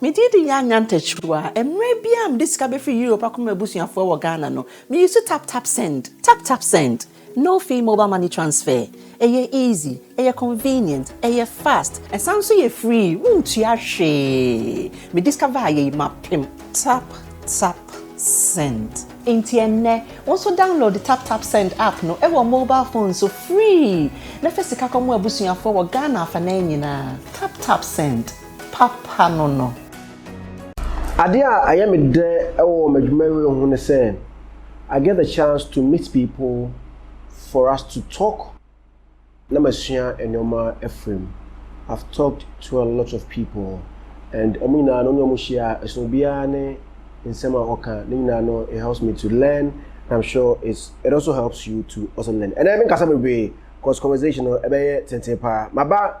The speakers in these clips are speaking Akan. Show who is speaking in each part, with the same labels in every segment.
Speaker 1: Me din de Yaa Nyantakyiruwa. Mmerɛ biara a mede sika bɛfiri Europe akɔma m'abusuafoɔ wɔ Ghana no, me use tap tap send, tap tap send, no fee mobile money transfer. Ɛyɛ easy, ɛyɛ convenient, ɛyɛ fast, ɛsan nso yɛ free, wontua hwee. Me discover ayɛ yi mapem. Tap tap send. Enti ɛnnɛ, wo nso download tap tap send app no wɔ mobile phone so free na fa sika kɔma w'abusuafoɔ wɔ Ghana afanan nyinaa. Tap tap send. papa no
Speaker 2: no. Adeɛ a ɛyɛ me dɛ wɔ m'adwumayie ho ne sɛ I get the chance to meet people for us to talk na masua nnoɔma afiri mu. I've talked to a lot of people and wɔn nyinaa no wo ne wɔn hyia a ɛsono obiara ne nsɛm a ɔka ne nyinaa no it helps me to learn and I'm sure it's it also helps you to also learn. Ɛnɛ menkasa bebree cause conversation no ɛbɛyɛ tenten paa. Maba.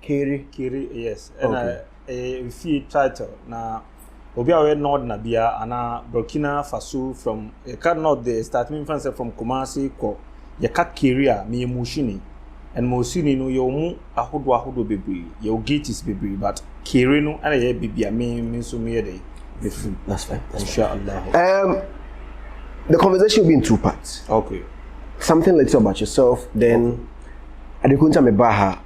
Speaker 3: Keri. Keri
Speaker 2: yes ɛna
Speaker 3: okay. ɛyɛ eh, fie title na obi a ɔyɛ nord na bia ana Burkina Faso from ɛka eh, nord de start mi nfa sɛ from Kumasi kɔ yɛka Keri a meyɛ mushini and mushini no yɛ ɔmo ahodoɔ ahodoɔ bebree yɛ o gates bebree but Keri no ɛna yɛ beebi a me me nso meyɛ dɛ mefiri. That's fine. That's Inshallah.
Speaker 2: Um, the conversation will be in two parts. Okay.
Speaker 3: Something little
Speaker 2: about yourself then. Okay. Adekunta Mebaha.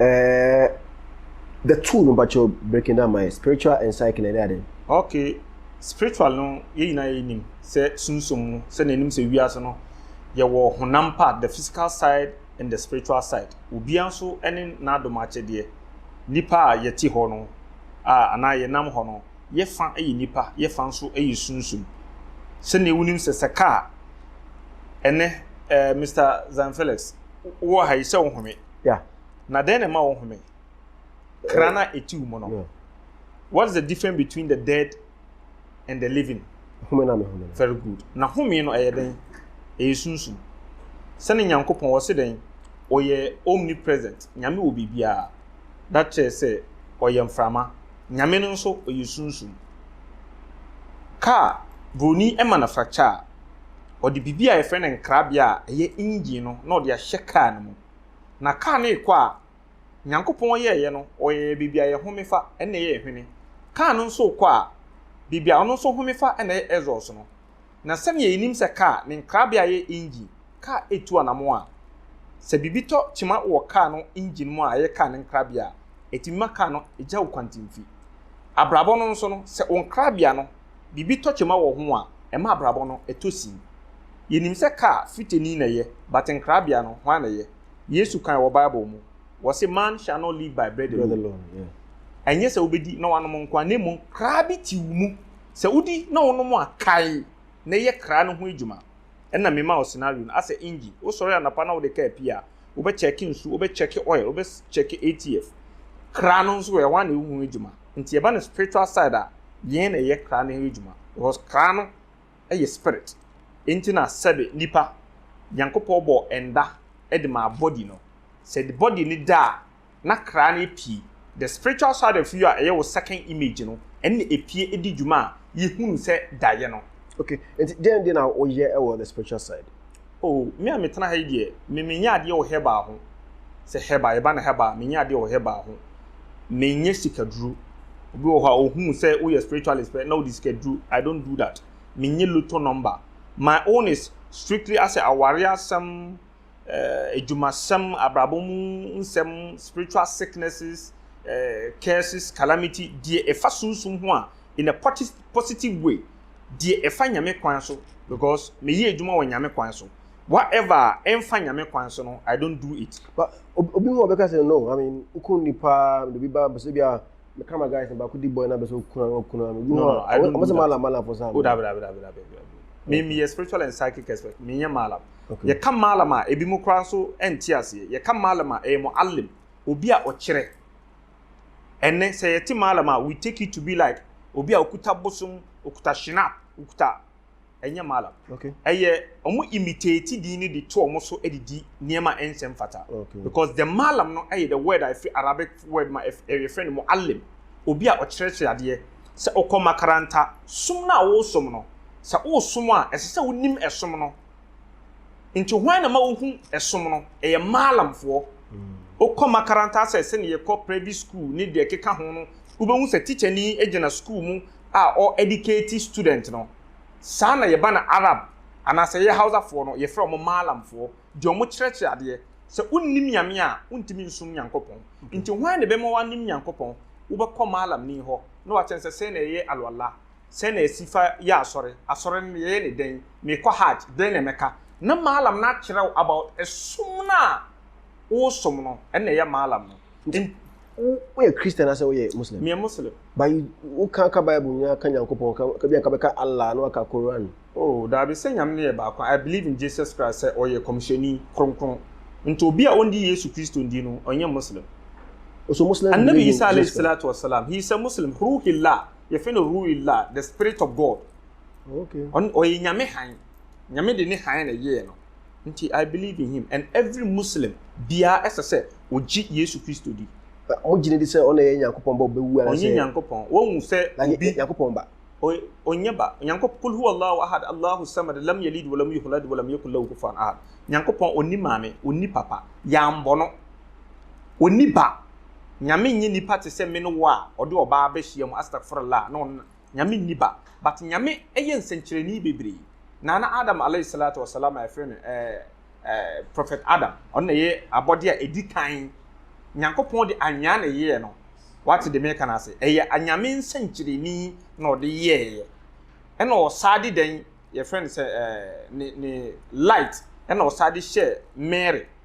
Speaker 3: Eh,
Speaker 2: the two no bakyɛ breaking down my spiritual and psyche na ɛde aden. Okay,
Speaker 3: spiritual no yɛ nyinaa yɛ nim sɛ sunsum mu sɛ na anim sɛ wiase no yɛwɔ honam part the physical side and the spiritual side. Obiara nso ne n'adom akyɛdeɛ. Nipa a yɛte hɔ no a anaa yɛnam hɔ no yɛ fa yɛ nipa yɛ fa nso yɛ sunsum. Sɛnea wonim sɛ sɛ kaa ɛnɛ eh, Mr. Zion Felix wowɔ ha yi sɛ wohome na dɛn
Speaker 2: na ɛma
Speaker 3: wohome kra na ɛtiw mu no what is the difference between the dead and the living home na mehome very good na home no ɛyɛ dɛn ɛyɛ sunsum sɛne nyankopɔn wɔ se dɛn ɔyɛ omnipresent nyame wɔ biribiara da kyerɛ sɛ ɔyɛ mframa nyame no nso ɔyɛ sunsum kaa buroni ɛma na fracture Ɔde biribi a yɛfrɛ no nkrabea a ɛyɛ engine no na ɔde ahyɛ kaa no mu. Na kaa no rekɔ a, Nyankopɔn yɛeɛ no, ɔyɛɛ baabi a yɛhome fa na ɛyɛ hwene. Kaa no nso rekɔ a, baabi a ɔno nso home fa na ɛyɛ exhaust no. Na sɛdeɛ yɛnim sɛ kaa, ne nkrabea yɛ engine. Kaa retu anammɔn a, sɛ biribi tɔ kyema wɔ kaa no engine mu a ɛyɛ kaa no nkrabea a, ɛtumi ma kaa no gyaw kwantemfi. Abrabɔ no nso no, sɛ wo nkrabea no, biribi tɔ kyema wɔ ho a, ɛma abrabɔ no tɔ sin. Yenim sɛ kar fritani na ɛyɛ, but nkrabea no, hwan na ɛyɛ? Yesu kae wɔ Bible mu, ɔse man shall not live by bread alone. Ɛnyɛ sɛ wobɛdi na woanom nko a, na mmom kra bi te wo mu. Sɛ wodi na wonom a, kae na yɛ kra no ho adwuma. Ɛna mema wo scenario no asɛ engine, wo sɔre anapa na wode car pie a, wo bɛ check nsu, wo bɛ check oil, wo bɛ check ATF. Kra no nso ɛhɔ a na ɛho adwuma. Nti ɛba no spiritual side a, yɛn na ɛyɛ kra no ho adwuma. Because kra no ɛyɛ spirit. Enti na sɛbe nipa, Nyankopɔn bɔɔ ɛnda ɛde maa body no. Sɛ body no da a, na kra no epue. The spiritual side of you a ɛyɛ wo second image no, ɛno na epue di dwuma a yehunu sɛ daeɛ no. Okay, nti deɛn
Speaker 2: deɛ na woyɛ wɔ the spiritual
Speaker 3: side? Oh,
Speaker 2: me a
Speaker 3: metena ha yi deɛ, me menyɛ
Speaker 2: adeɛ wɔ
Speaker 3: herbal ho. Sɛ herbal, yɛba no herbal a, menyɛ adeɛ wɔ herbal ho. Menyɛ sikaduro. Obi wɔ hɔ a, ohu sɛ woyɛ spiritualist pɛ na wode sikaduro. I don't do that. Menyɛ lotto number. My own is strictly asɛ awareɛ asɛm, eh, adwumasɛm, abrabɔ mu nsɛm, spiritual sicknesses, eh, curses, calamity, deɛ ɛfa sunsum ho a, in a positive way, deɛ ɛfa nyame kwan so, because meyɛ adwuma wɔ nyame kwan so. Whatever a ɛmfa nyame kwan so no, I don't do it. But obi mu
Speaker 2: ɔbɛka sɛ no, I mean, wokɔ nipa, de bi ba, bɛsɛ bi a, me ka ma guys na baako di boy na bɛ sɛ okunu ano okunu ano you know ɔmo sɛ
Speaker 3: malam malam fo saa. o dabi dabi
Speaker 2: dabi dabi
Speaker 3: mi mi yɛ spiritual and psychic expert mi yɛ malam yɛ ka malam a ebi mu koraa nso ɛnti aseɛ yɛ ka malam a ɛyɛ mo alim obi a ɔkyerɛ ɛnɛ sɛ yɛ te malam a we take it to be like obi a okuta bosom okuta shinap okuta. ɛnyɛ malam okay ɛyɛ
Speaker 2: ɔmo
Speaker 3: imitate din no de to ɔmo so de di nneɛma a ɛnsɛ mfata okay because the malam no ɛyɛ the word a ɛfiri arabic word ma ɛyɛfrɛ no muallim obi a ɔkyerɛkyerɛ adeɛ sɛ ɔkɔ makaranta som no a wɔresom no sɛ woresom a ɛsɛ sɛ wonim ɛsom no Nti hwan na ma wohu ɛsom no? Ɛyɛ Maalamfoɔ. Wokɔ makaranta asɛ sɛne yɛkɔ private school ne deɛ ɛkeka ho no, wobɛhu sɛ teacher ni gyina school mu a ɔ educate student no. Saa na yɛba na Arab anaasɛ yɛyɛ Hausafoɔ no, yɛfrɛ wɔn Maalamfoɔ, deɛ wɔkyerɛkyerɛ adeɛ. Sɛ wonnim Nyame a, wontumi nsom Nyankopɔn. Nti hwan na ɛbɛma woanim Nyankopɔn? Wobɛkɔ Maalamni hɔ na wakyerɛ sɛ sɛn na yɛyɛ Alwala. sɛn na yɛsi fa yɛ asɔre, asɔre no yɛyɛ no dɛn, mekɔ hajj, dɛn na mɛka. Na maalam no akyerɛ wo about ɛsom no a wosom no, ɛno na ɛyɛ maalam no. Nti wo woyɛ
Speaker 2: Christian asɛ woyɛ Muslim? Meyɛ Muslim. But
Speaker 3: you wo ka
Speaker 2: ka Bible nyinaa ka Nyankopɔn ka ka bi anka bɛka Allah na waka Quran. Oh daabi sɛ Nyame
Speaker 3: no yɛ baako I believe in Jesus Christ sɛ ɔyɛ kɔmhyɛni kronkron nti obi a ɔndi Yesu Kristo ndi no ɔnyɛ Muslim. So Muslims
Speaker 2: Annabi believe in Isa Jesus Christ? alayhi
Speaker 3: salatu wa salam he is a Muslim through hillah. yɛfrɛ no ru'il la the spirit of God
Speaker 2: ɔyɛ nyame
Speaker 3: han nyame de ne han na ɛyɛɛ no nti I believe in him and every Muslim biara ɛsɛ sɛ ogye Yesu Kristo di mogyina di sɛ
Speaker 2: ɔna ɛyɛ Nyankopɔn ba ɔbɛwu anasɛ ɔnyɛ Nyankopɔn wɔhu
Speaker 3: sɛ obi Nyankopɔn ba
Speaker 2: ɔnyɛ ba
Speaker 3: Nyankopɔn kul huwa Allahu ahad Allahu samad lam yalid walam yuhlad walam yakul lahu kufuwan ahad Nyankopɔn ɔni maame ɔni papa yɛambɔ no ɔni ba Nyame nyɛ nipa te sɛ me ne wo a ɔde ɔbaa bɛhyia mu astagfurullah na ɔno Nyame nni ba but Nyame yɛ nsɛnkyerɛnee bebree Nana Adam alaih salatu wa salaam a yɛfrɛ no eh eh prophet Adam ɔno na ɛyɛ abɔdeɛ a ɛdi kan Nyankopɔn de anwea na ɛyɛɛ no wate deɛ meka no ase ɛyɛ Nyame nsɛnkyerɛnee na ɔde yɛɛyɛ ɛna ɔsaa de dɛn yɛfrɛ no sɛ eh ne ne light ɛna ɔsaa de hyɛɛ Mary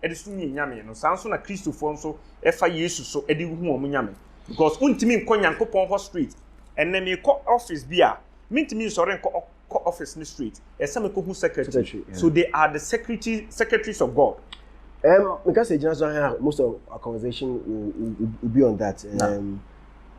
Speaker 3: de som yɛn Nyame no, saa nso na Kristofoɔ nso fa Yesu so de hu wɔn Nyame. Because wontumi nkɔ Nyankopɔn hɔ straight. Ɛnnɛ meekɔ office bi a, mentumi nsɔre nkɔ kɔ office no straight. Ɛsɛ sɛ mekɔhu secretary. secretary yeah. So they are the secretary, secretaries of God. Um, because
Speaker 2: gyina so ha most of our conversation will, will, will be on that. Um, nah.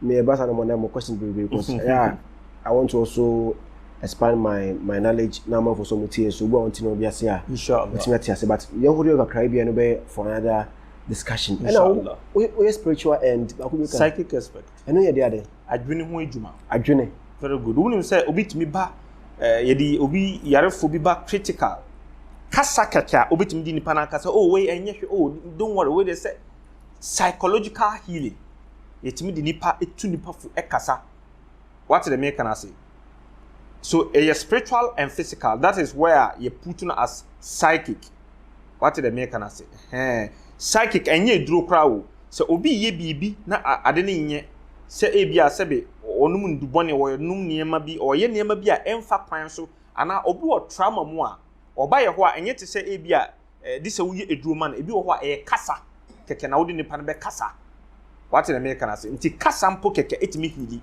Speaker 2: me ɛba saa na mɔnɛ mo question bebree cause ɛyɛ a I want to also expand my my knowledge na amanfo so mo tie so obi a ɔnte na obi ase a ɔtumi ate
Speaker 3: ase but yɛn
Speaker 2: ho deɛ kakra bi a no bɛyɛ for another discussion ɛna woyɛ
Speaker 3: spiritual
Speaker 2: and baako bi ka psychic expert
Speaker 3: ɛno yɛ de ade
Speaker 2: adwene ho adwuma
Speaker 3: adwene very
Speaker 2: good wonim
Speaker 3: sɛ obi tumi ba eh, yɛde obi yarefo bi ba critical kasa kɛkɛ a obetumi di nipa n'akasa oh wei ɛnyɛ hwɛ oh don't worry wei de sɛ psychological healing yɛtumi de nipa tu nipa fo kasa wate deɛ meka no ase so ɛyɛ spiritual and physical that is where a yɛ put no as psychic wate deɛ meka no ase hɛn psychic ɛnyɛ eduro koraa o sɛ obi yɛ biribi na ade no nyɛ sɛ ebi a sɛbe ɔnom ndubɔne ɔnom nneɛma bi ɔyɛ nneɛma bi a ɛmfa kwan so anaa obi wɔ trauma mu a ɔba yɛ hɔ a ɛnyɛ te sɛ ebi a ɛde sɛ woyɛ aduro ma no. Ebi wɔ hɔ a, ɛyɛ kasa kɛkɛ na wode nipa no bɛkasa. Wate deɛ meka no ase? Nti kasa mpo kɛkɛ ɛtumi hili.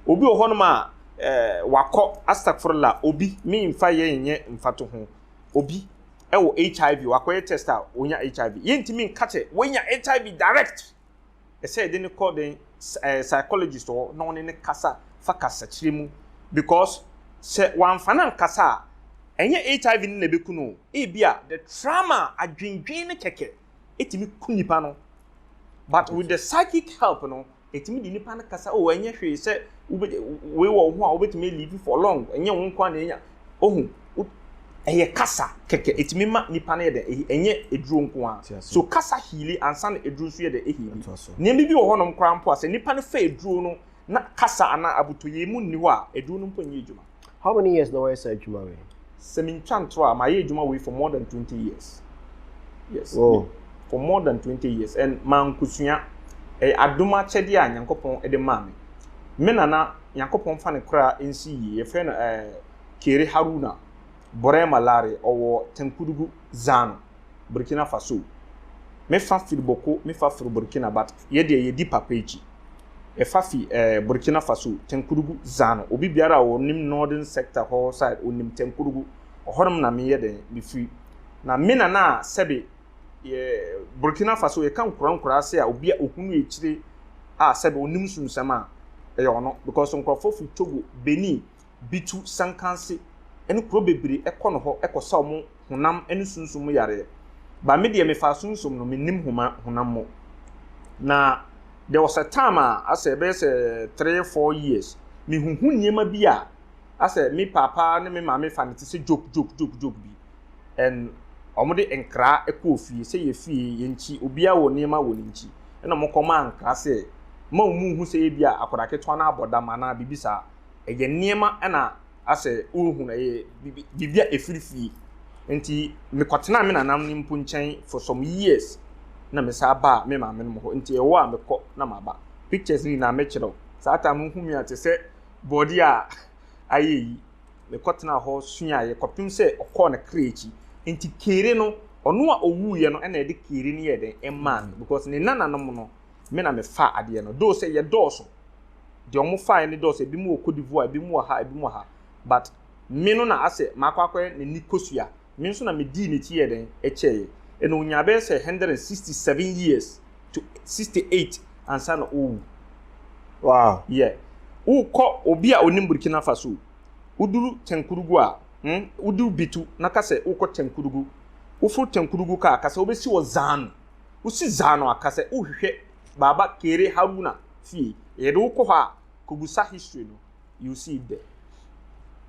Speaker 3: Obi wɔ hɔnom a, eh, wakɔ, astagfurullah, obi, memfa yɛ nyɛ mfato ho, obi ɛwɔ HIV, wakɔyɛ test a, ɔnya HIV. Yɛntumi nka sɛ wanya HIV direct. ɛsɛ yɛde no kɔ den ɛɛ psychologist hɔ na ɔne no kasa fa kasakyerɛ mu because sɛ wamfa no ankasa a ɛnyɛ HIV no na ɛbɛku no o ebia the trauma adwendwen no kɛkɛ ɛtumi ku nipa no but with the psychic help no ɛtumi de nipa no kasa o ɛnyɛ hwee sɛ wei wɔ wo ho a wobɛtumi alive for long ɛnyɛ wo nko a na ɛnya ohu wo ɛyɛ kasa kɛkɛ ɛtumi ma nipa no yɛ dɛ ɛhi ɛnyɛ aduro nko ara so kasa hiili ansa na aduro nso yɛ dɛ ɛhiili nneɛma bi wɔ hɔnom koraa mpo a sɛ nipa no fɛ aduro no na kasa anaa abotɔyɛ mu nni hɔ a aduro no mpo nyɛ adwuma. How many years na wɔyɛ
Speaker 2: saa adwuma wei? Sɛ mentwa ntorɔ a
Speaker 3: mayɛ adwuma wei for more than 20 years. Yes. Oh. For
Speaker 2: more than 20
Speaker 3: years and mankosua ɛyɛ adom akyɛdeɛ a Nyankopɔn de maa me. Me nana Nyankopɔn fa no koraa nsi yie yɛfrɛ no ɛɛ. Eh, Kere Haruna Borema Lare ɔwɔ Tenkudugu Zano, Burkina Faso. Me fa firi Boko, me fa firi Burkina but yɛ deɛ yɛdi papa akyi. Yɛ fa fi eh, Burkina Faso, Tenkudugu Zano. Obi biara a ɔnim Northern Sector hɔ side ɔnim Tenkudugu. Ɔhɔnom na meyɛ dɛn mefiri. Na me nana a sɛbe yɛ Burkina Faso yɛka nkura nkura ase a obi a ɔhunu akyire a sɛbe ɔnim sunsɛm a ɛyɛ ɔno because nkurɔfoɔ firi Togo, Benin, bi tu sankanse ne kuro bebree kɔ no hɔ kɔsa wɔn honam ne sunsum mu yareɛ. But me deɛ mefaa sunsum no, mennim homa, honam mu. Na there was a time a asɛ ɛbɛyɛ sɛ three, four years, mehuhu nneɛma bi a asɛ me paapa ne me maame fa no te sɛ joke, joke, joke, joke bi. And wɔn de nkra kɔɔ fie sɛ yɛ fie yɛn nkyi obiara wɔ nneɛma wɔ ne nkyi. Ɛna wɔn kɔmaa nkra sɛ ma wɔn nhu sɛ ebi a akwadaa ketewa no abɔ dam anaa biribi saa. ɛyɛ nneɛma na asɛ worehu no, ɛyɛ biribi biribi a ɛfiri fie. Nti mekɔtenaa me nananom no mpo nkyɛn for some years na mesan baa me maame nom hɔ. Nti ɛwɔ a mekɔ na maba. Pictures no nyinaa mɛkyerɛ wo. Saa time no wohu me a te sɛ bɔɔdeɛ a ayɛ ayi. Mekɔtenaa hɔ suaeɛ kɔpem sɛ ɔkɔɔ ne kra akyi. Nti Kere no, ɔno a ɔwuiɛ no na ɛde Kere no yɛɛ dɛn? Ɛmaa me because ne nananom no me na mefaa adeɛ no though sɛ yɛdɔɔso, deɛ wɔn faeɛ no dɔɔso, ebinom wɔ Cote d'Ivoire, ebinom wɔ ha, ebinom wɔ ha but me no na asɛ makɔ akɔyɛ n'ani kosua, me nso na medii n'akyi yɛɛ dɛn kyɛɛeɛ, ɛnna ɔnyaa bɛyɛ sɛ hundred and sixty seven years to sixty eight ansa na ɔrewu. Wow.
Speaker 2: Yeah.
Speaker 3: Wokɔ obi a ɔnim Burkina Faso, woduru Tenkurugu a, hmm, woduru Bitu na ka sɛ wokɔ Tenkurugu, woforo Tenkurugu kaa ka sɛ wobɛsi wɔ Zanu, Wosi dza ano aka sɛ wohwehwɛ Baba Kairé Haruna fie, yɛde wo kɔ hɔ a, kɔbisa history no, you see dɛ.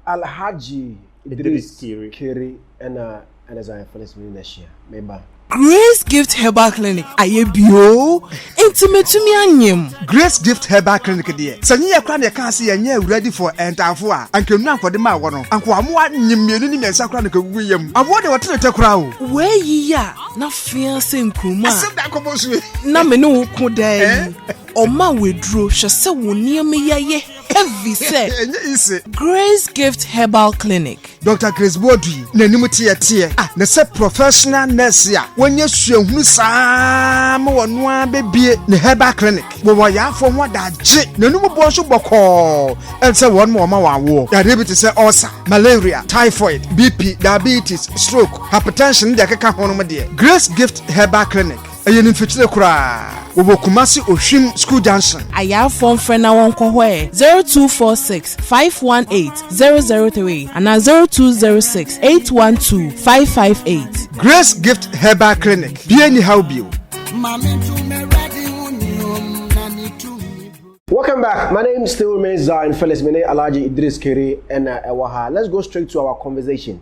Speaker 3: Alhaji
Speaker 2: Idris Kairé na ɛne Zion Felix Mini na ahyia. Me ba. Grace Gift
Speaker 4: Herbal Clinic ayɛ bio oo, enti matumi anyem. Grace Gift Herbal
Speaker 5: Clinic deɛ, sɛ nyɛ yɛ koraa na yɛkaa sɛ yɛnyɛ awuradi for ɛntaafo a, anka nnuro a nkɔde maa wɔ no, anka wɔamoa nyem mmienu ne mmiɛnsa koraa na nka ɛgugu yam. Awɔ deɛ wɔte no tɛ koraa o. Woayi yɛ a,
Speaker 4: na fea sɛ nkuruma a Asɛm da akɔbɔ nsu yi.
Speaker 5: na me ne wo ko
Speaker 4: daa yi ɔma wo aduro hwɛ sɛ wo nneɛma yi ayɛ heavy sɛ Ɛnyɛ easy. Grace Gift Herbal Clinic. Doctor Grace Boadu
Speaker 5: yi n'anim teɛ teɛ a na sɛ professional nurse a wanya suahunu saa ara ma ɔno ara bɛbue ne herbal clinic wɔ wɔyarefoɔ ho adagye n'anom boɔ nso bɔkɔɔ ɛne sɛ wɔn ma wɔma wɔn awoɔ yareɛ bi te sɛ ulcer, malaria, typhoid, BP, diabetes, stroke, hypertension ne deɛ ɛkeka ho no mo deɛ, Grace Gift Herbal Clinic, ɛyɛ no mfikyire koraa. Wɔwɔ Kumasi Ohwim School Junction. Ayaafoɔ mfrɛ na
Speaker 4: wɔnkɔ hɔ ɛ, zero two four six five one eight zero zero three anaa zero two zero six eight one two five five eight. Grace Gift
Speaker 5: Herbal Clinic, bie ni haw bio.
Speaker 2: Welcome back. My name still remains Zion Felix Mene Alaji Idris Kiri and uh, Ewaha. Let's go straight to our conversation.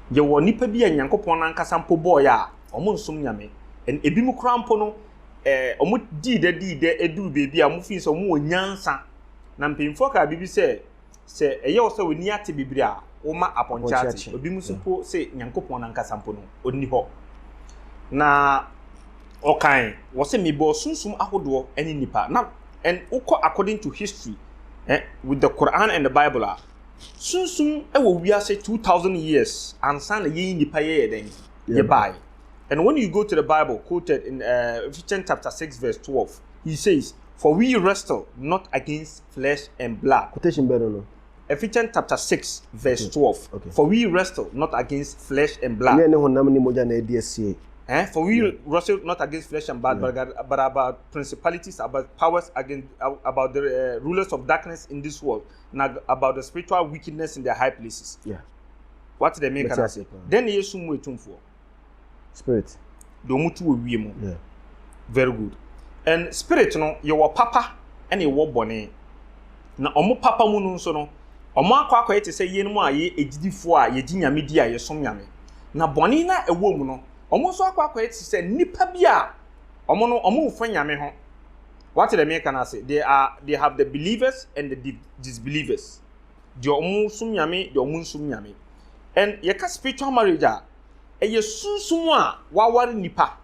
Speaker 3: Yɛwɔ nnipa bi a Nyankopɔn no ankasa mpo bɔe a, wɔnsom Nyame. Ɛn, ebinom koraa mpo no, eh, wɔdii dɛ dii dɛ eduu baabi a wɔfii sɛ wɔwɔ nyansa. Na mpanyimfoɔ kaa biribi sɛ, Sɛ ɛyɛ wo sɛ w'ani ate bibire a, woma apɔnkye ate. Ebinom nso mpo se Nyankopɔn no ankasa mpo no, ɔnni hɔ. Na wɔkae, wɔse, Mebɔɔ sunsum ahodoɔ ne nnipa. Na, ɛn, wokɔ according to history, eh, with the Qur'aan and the Bible a, Sunsum wɔ wiase two thousand years ansa na yɛn nipa yɛyɛ dɛn? Yɛbaeɛ. And when you go to the Bible quoted in uh, Ephesians chapter six verse twelve, he says, For we wrestle not against flesh and blood. Quotation bɛn no no?
Speaker 2: Ephesians chapter six
Speaker 3: verse hmm. twelve. Okay. For we wrestle
Speaker 2: not
Speaker 3: against flesh and blood. Ɛnyɛ ne honam ne mogya na ɛdi asie. Eh? For we yeah. wrestle not against flesh and blood, yeah. but, but about principalities, about powers, against, about the uh, rulers of darkness in this world, na about the spiritual wickedness in the high places yeah.
Speaker 2: wate dɛ meka
Speaker 3: no ase dɛn na yɛ sum mu atumfoɔ spirit
Speaker 2: deɛ ɔmo tu wɔ
Speaker 3: wie mu yeah. very good and spirit no yɛwɔ papa ɛna yɛwɔ bɔne na ɔmo papa mu no nso no ɔmo akɔ akɔyɛ te sɛ yɛn mu a yɛ agyidifoɔ a yɛgye nyame di a yɛsom nyame na bɔne na ɛwɔ mu no ɔmo nso akɔ akɔyɛ te sɛ nnipa bi a ɔmo no ɔmo nfa nyame ho Wɔate deɛ mereka no ase? They are, they have the believers and the di- disbelievers. Deɛ wɔn som nyame, deɛ wɔn nsom nyame. And yɛka spiritual marriage a, ɛyɛ sunsum a waware nipa,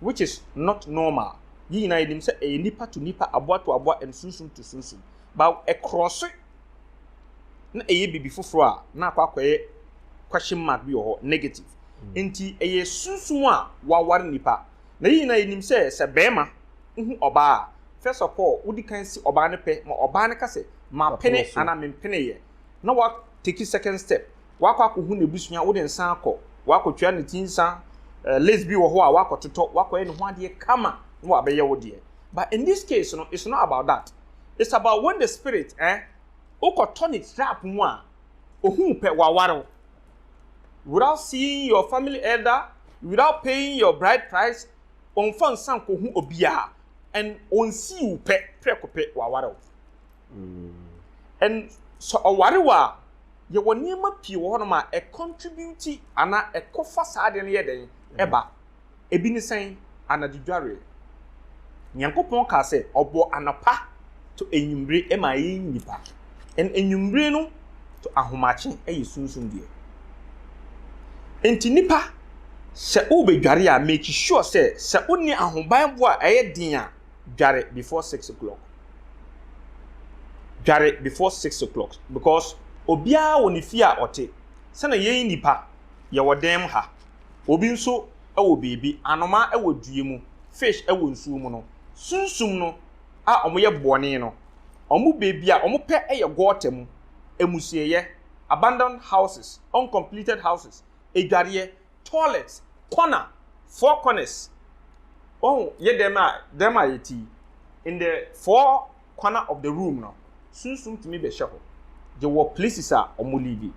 Speaker 3: which is not normal. Yɛn nyinaa yɛnim sɛ ɛyɛ nipa to nipa, aboa to aboa, and sunsum to sunsum. But ɛkorɔ so na ɛyɛ biribi foforɔ a, na akɔ akɔyɛ question mark bi wɔ hɔ, negative. Nti ɛyɛ sunsum a waware nipa. Na yɛn nyinaa yɛnim sɛ, sɛ barima hu ɔbaa a, first of all, wodi kan si ɔbaa no pɛ ma ɔbaa no ka sɛ, mapene anaa mempeneeɛ, na wa take second step, wakɔ akɔhu n'abusua, wode nsa akɔ, wakɔtua ne ti nsa, eh, list bi wɔ hɔ a wakɔtotɔ, wakɔyɛ ne ho adeɛ kama, na wabɛyɛ wo deɛ. But in this case no, it's not about that. It's about when the spirit, eh, wokɔtɔ ne trap mu a, ohuu pɛ, waware wo. without seeing your family elder without paying your bride price wɔnfa nsa nkohu obiara and wɔnsi wo pɛ prɛko pɛ wɔaware wo mm. and sɛ ɔware wo a yɛwɔ nneɛma pii wɔ hɔnom a ɛcontribute anaa ɛkɔfa saa adeɛ no yɛ dɛn ɛba Ebi ne sɛn? Anadwo dwareɛ. Nyankopɔn kaa sɛ, ɔbɔɔ anɔpa to anwummere maa yɛn nnipa. Ɛn anwummere no to ahomakye yɛ sunsum deɛ. Enti nnipa, sɛ wobɛdware a, make sure sɛ, sɛ wonni ahobanbɔ a ɛyɛ den a, dware before six o'clock. Dware before six o'clock because obiara wɔ ne fie a ɔte. Sɛdeɛ yɛn nnipa, yɛwɔ dan mu ha. Obi nso wɔ biribi, anomaa wɔ dua mu, fish wɔ nsuo mu no, sunsum no a wɔyɛ bɔne no, wɔn baabi a wɔpɛ yɛ gɔɔta mu, amusieyɛ, abandoned houses, uncompleted houses, adwareɛ, toilets, corner, four corners, wahu, yɛ dɛm a, dɛm a yɛte yi, in the four. corner of the room no, sunsum tumi bɛhyɛ hɔ. Yɛwɔ places a wɔn live.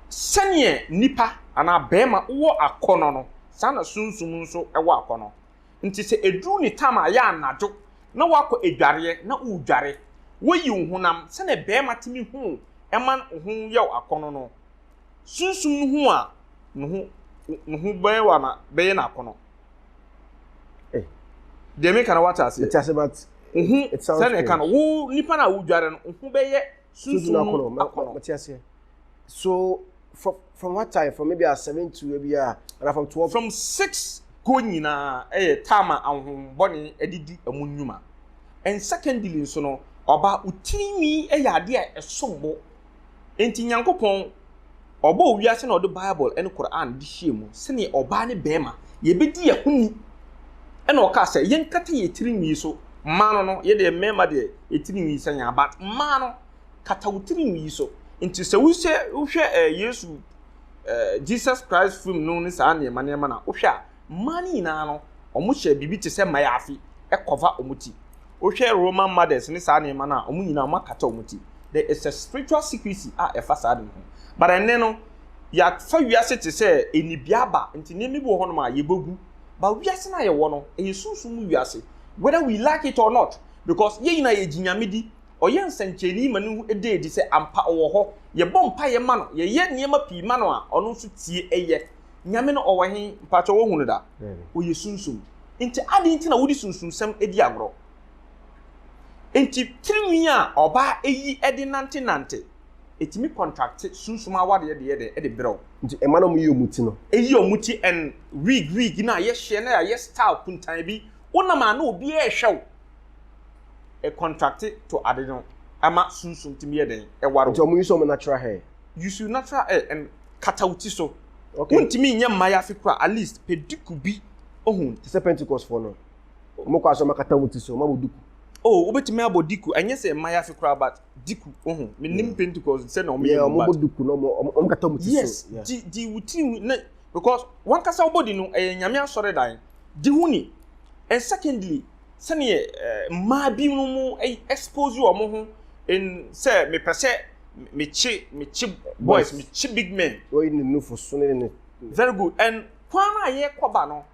Speaker 3: Sɛdeɛ nipa anaa barima wɔ akɔnɔ no, saa na sunsum nso wɔ akɔnɔ. Nti sɛ ɛduru ne time a ɛyɛ anadwo na woakɔ adwareɛ na woredware, woyi wo honam sɛdeɛ barima tumi hu ma ne ho yɛ wo akɔnɔ no, sunsum no hu a, ne ho bɛyɛ no akɔnɔ. Eh. Deɛ meka no wate aseɛ. Mete aseɛ but. Ohu
Speaker 2: sɛnea
Speaker 3: ɛka no wo nipa na wodware no ohu bɛyɛ sunsun akɔnɔ. Akɔnɔ mete aseɛ.
Speaker 2: So from from what time from maybe at seven to maybe ah and from twelve. From six
Speaker 3: go nyinaa ɛyɛ time a ahohombɔne ɛde di ɛmu nnwuma and secondly nso no ɔbaa otiri nwi ɛyɛ adeɛ a ɛsom bo. Enti Nyankopɔn Ɔbɔɔ wiase na Ɔde Bible ne Qur'aan de hyɛɛ mu sɛdeɛ ɔbaa ne barima yɛbɛdi yɛn ho ni. Ɛna ɔkaa sɛ, Yɛnkata yɛn tiri nwi so, mmaa no no, yɛdeɛ mmarima deɛ yɛn tiri nwi sɛ yɛn but mmaa no, kata wo tiri nwi so. Enti sɛ wohyɛ, wohwɛ ɛɛ Yesu, ɛɛ Jesus Christ film no ne saa nneɛma nneɛma no a, wohwɛ a, mmaa no nyinaa no, wɔhyɛ biribi te sɛ mayaafi cover wɔn ti. Wohwɛ Roman mothers ne saa nneɛma no a, wɔn nyinaa wɔakata wɔn ti. There is a spiritual secrecy a ɛfa saa de no ho. But ɛnnɛ no, yɛafa wiase te sɛ anibiaba, nti nneɛma bi wɔ hɔnom a yɛbɛgu. But wiase no a yɛwɔ no, ɛyɛ sunsum mu wiase, whether we like it or not, because yɛn nyinaa yɛgye Nyame di. Ɔyɛ nsɛnkyerɛnne ma no da adi sɛ ampa ɔwɔ hɔ. Yɛbɔ mpaeɛ ma no, yɛyɛ nneɛma pii ma no a, ɔno nso tie yɛ. Nyame no ɔwɔ he? Mpakyɛ woahu no da? Ɔyɛ sunsum. Enti adɛn nti na wode sunsunsɛm di agorɔ? Enti tirinwi a ɔbaa yi de nantenante, ɛtumi kɔntrakte sunsum awadeɛ de yɛ dɛn? De berɛw. Nti ɛma na wɔyi wɔn
Speaker 2: ti no. Ɛyi wɔn ti
Speaker 3: and wig wig no a yɛhyɛ na yɛayɛ style kuntan bi, wonam a na obiara rehwɛ wo. Ɛkɔntrakte to ade no ma sunsum tumi yɛ dɛn? Ɛware wo. Nti wɔyi nso wɔn natural
Speaker 2: hair. use your natural hair
Speaker 3: and kata wo ti so. Okay. Wontumi nyɛ
Speaker 2: mmayafi
Speaker 3: kora at least pɛ duku bi ohu. Te sɛ Pentecost fo
Speaker 2: no. Wɔn kɔ asɔ ma kata wɔn ti so, wɔn abɔ duku. Oh, wobɛtumi abɔ
Speaker 3: duku. Ɛnyɛ sɛ mmayafi kora but duku ohu. Menim Pentecost sɛ na wɔn yɛ wɔn but. Wɔn duku na
Speaker 2: wɔn kata wɔn ti so. Yes, di di wo
Speaker 3: tiri na because wɔn kasa wɔbɔ di no ɛyɛ nyame asɔre dan. Di ho ni. And secondly. sɛdeɛ mmaa binom expose wɔn ho in sɛ mepɛ sɛ mekye mekye boys mekye big men. wɔyi ne nufoso ne
Speaker 2: ne. very good and
Speaker 3: kwan a yɛkɔba no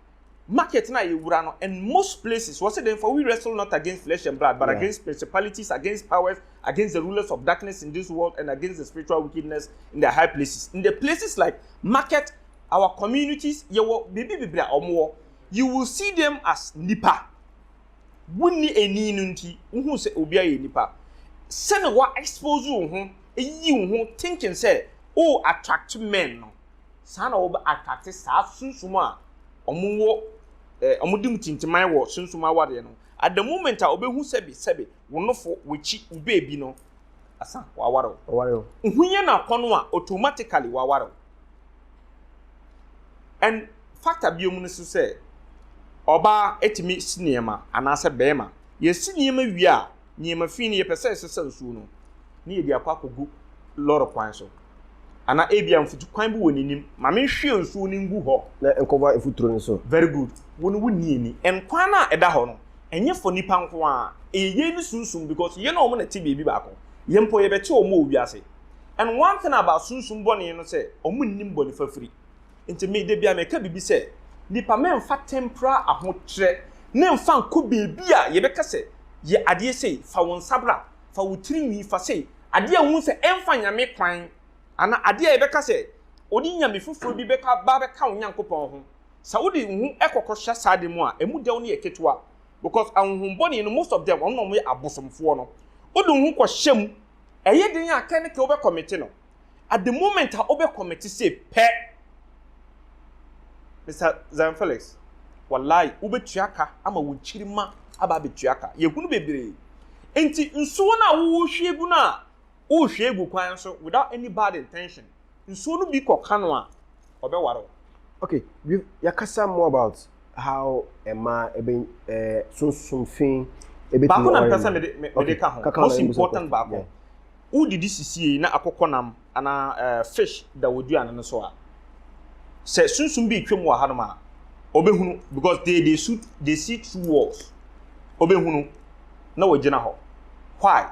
Speaker 3: market no a yɛwura no and most places wɔ sɛ dɛn for we wrestle not against flesh and blood but yeah. against principalities against powers against the rulers of darkness in this world and against the spiritual wickedness in the high places in the places like market our communities yɛwɔ biribi bebree a wɔn wɔ You will see them as nnipa. Wonni ani no nti, wohu sɛ obiara yɛ nipa. Sɛnea wa expose wo ho, ayiyi wo ho thinking sɛ o attract men no, saa na wɔbɛ attract saa sunsum a wɔn wɔ eh, wɔn di mu tintiman wɔ sunsum awareɛ no. At the moment a wɔbɛhu sɛbi sɛbi wo nofo, w'akyi, wo beebi no, asa, waware wo. Waware wo. Wohu yɛ na kɔn a automatically waware wo. Ɛn fata bio mu no so sɛ ɔbaa etumi si nneɛma anaasɛ bɛɛma. Yɛsi nneɛma wie a, nneɛma fii no yɛpɛ sɛ ɛsesa nsuo no ne yɛde akɔ akɔ gu lɔre kwan so. Ana ebia mfutu kwan bi wɔ n'anim ma me nhwie nsuo no ngu hɔ. Na nkɔba mfuturo
Speaker 2: no so. Very good. Wo no wo
Speaker 3: ni ani. Ɛn kwan no a ɛda hɔ no, ɛnyɛ for nipa nko ara. Ɛyɛ yɛn ne sunsum because yɛn ne wɔn na ɛte baabi baako. Yɛn mpo yɛbɛte wɔn wɔ wiase. And one thing about sunsum bɔne no sɛ ɔmo nnim bɔne fafiri. Nti me da bi a meka biribi sɛ nipa mɛnfa temporal ahokyerɛ ne nfa nkɔ baabi a yɛbɛka sɛ yɛ adeɛ sei, fa wo nsa bra, fa wo tiri nwi, fa sei, adeɛ a wohu sɛ ɛnfa Nyame kwan anaa adeɛ a yɛbɛka sɛ wode Nyame foforɔ bi bɛka ba bɛka wo Nyankopɔn ho. Sɛ wode wo ho kɔ kɔ hyɛ saa ade mu a ɛmu dɛw no yɛ ketewa because ahonhom bɔne no most of them wɔn na wɔyɛ abosomfoɔ no. Wode wo ho kɔ hyɛ mu. ɛyɛ den a kɛ ne kɛ wobɛkɔmete no. At the moment a wobɛkɔmete sei pɛ, Mister Zion Felix, walayi wobɛtua ka ama wo nkyirimma aba abɛtua ka. Yɛhunu bebree. Enti nsuo no a wohwie gu no a, wohwie gu kwan so without any bad intention. nsuo no bi kɔka no a, ɔbɛware wo. Okay,
Speaker 2: we've yɛakasa more about how mmaa ɛbɛ ɛɛ sunsum fi ɛbɛtumi Baako
Speaker 3: na mpɛ sɛ mede me mede ka ho, kaka most important baako. Yeah. Wodidi sisiei na akokɔnam anaa ɛɛ fish da w'aduane no so a, sɛ sunsum bi retwam wɔ hanom a, ɔbɛhunu because they they shoot they see through walls. Ɔbɛhunu na wagyina hɔ. Why?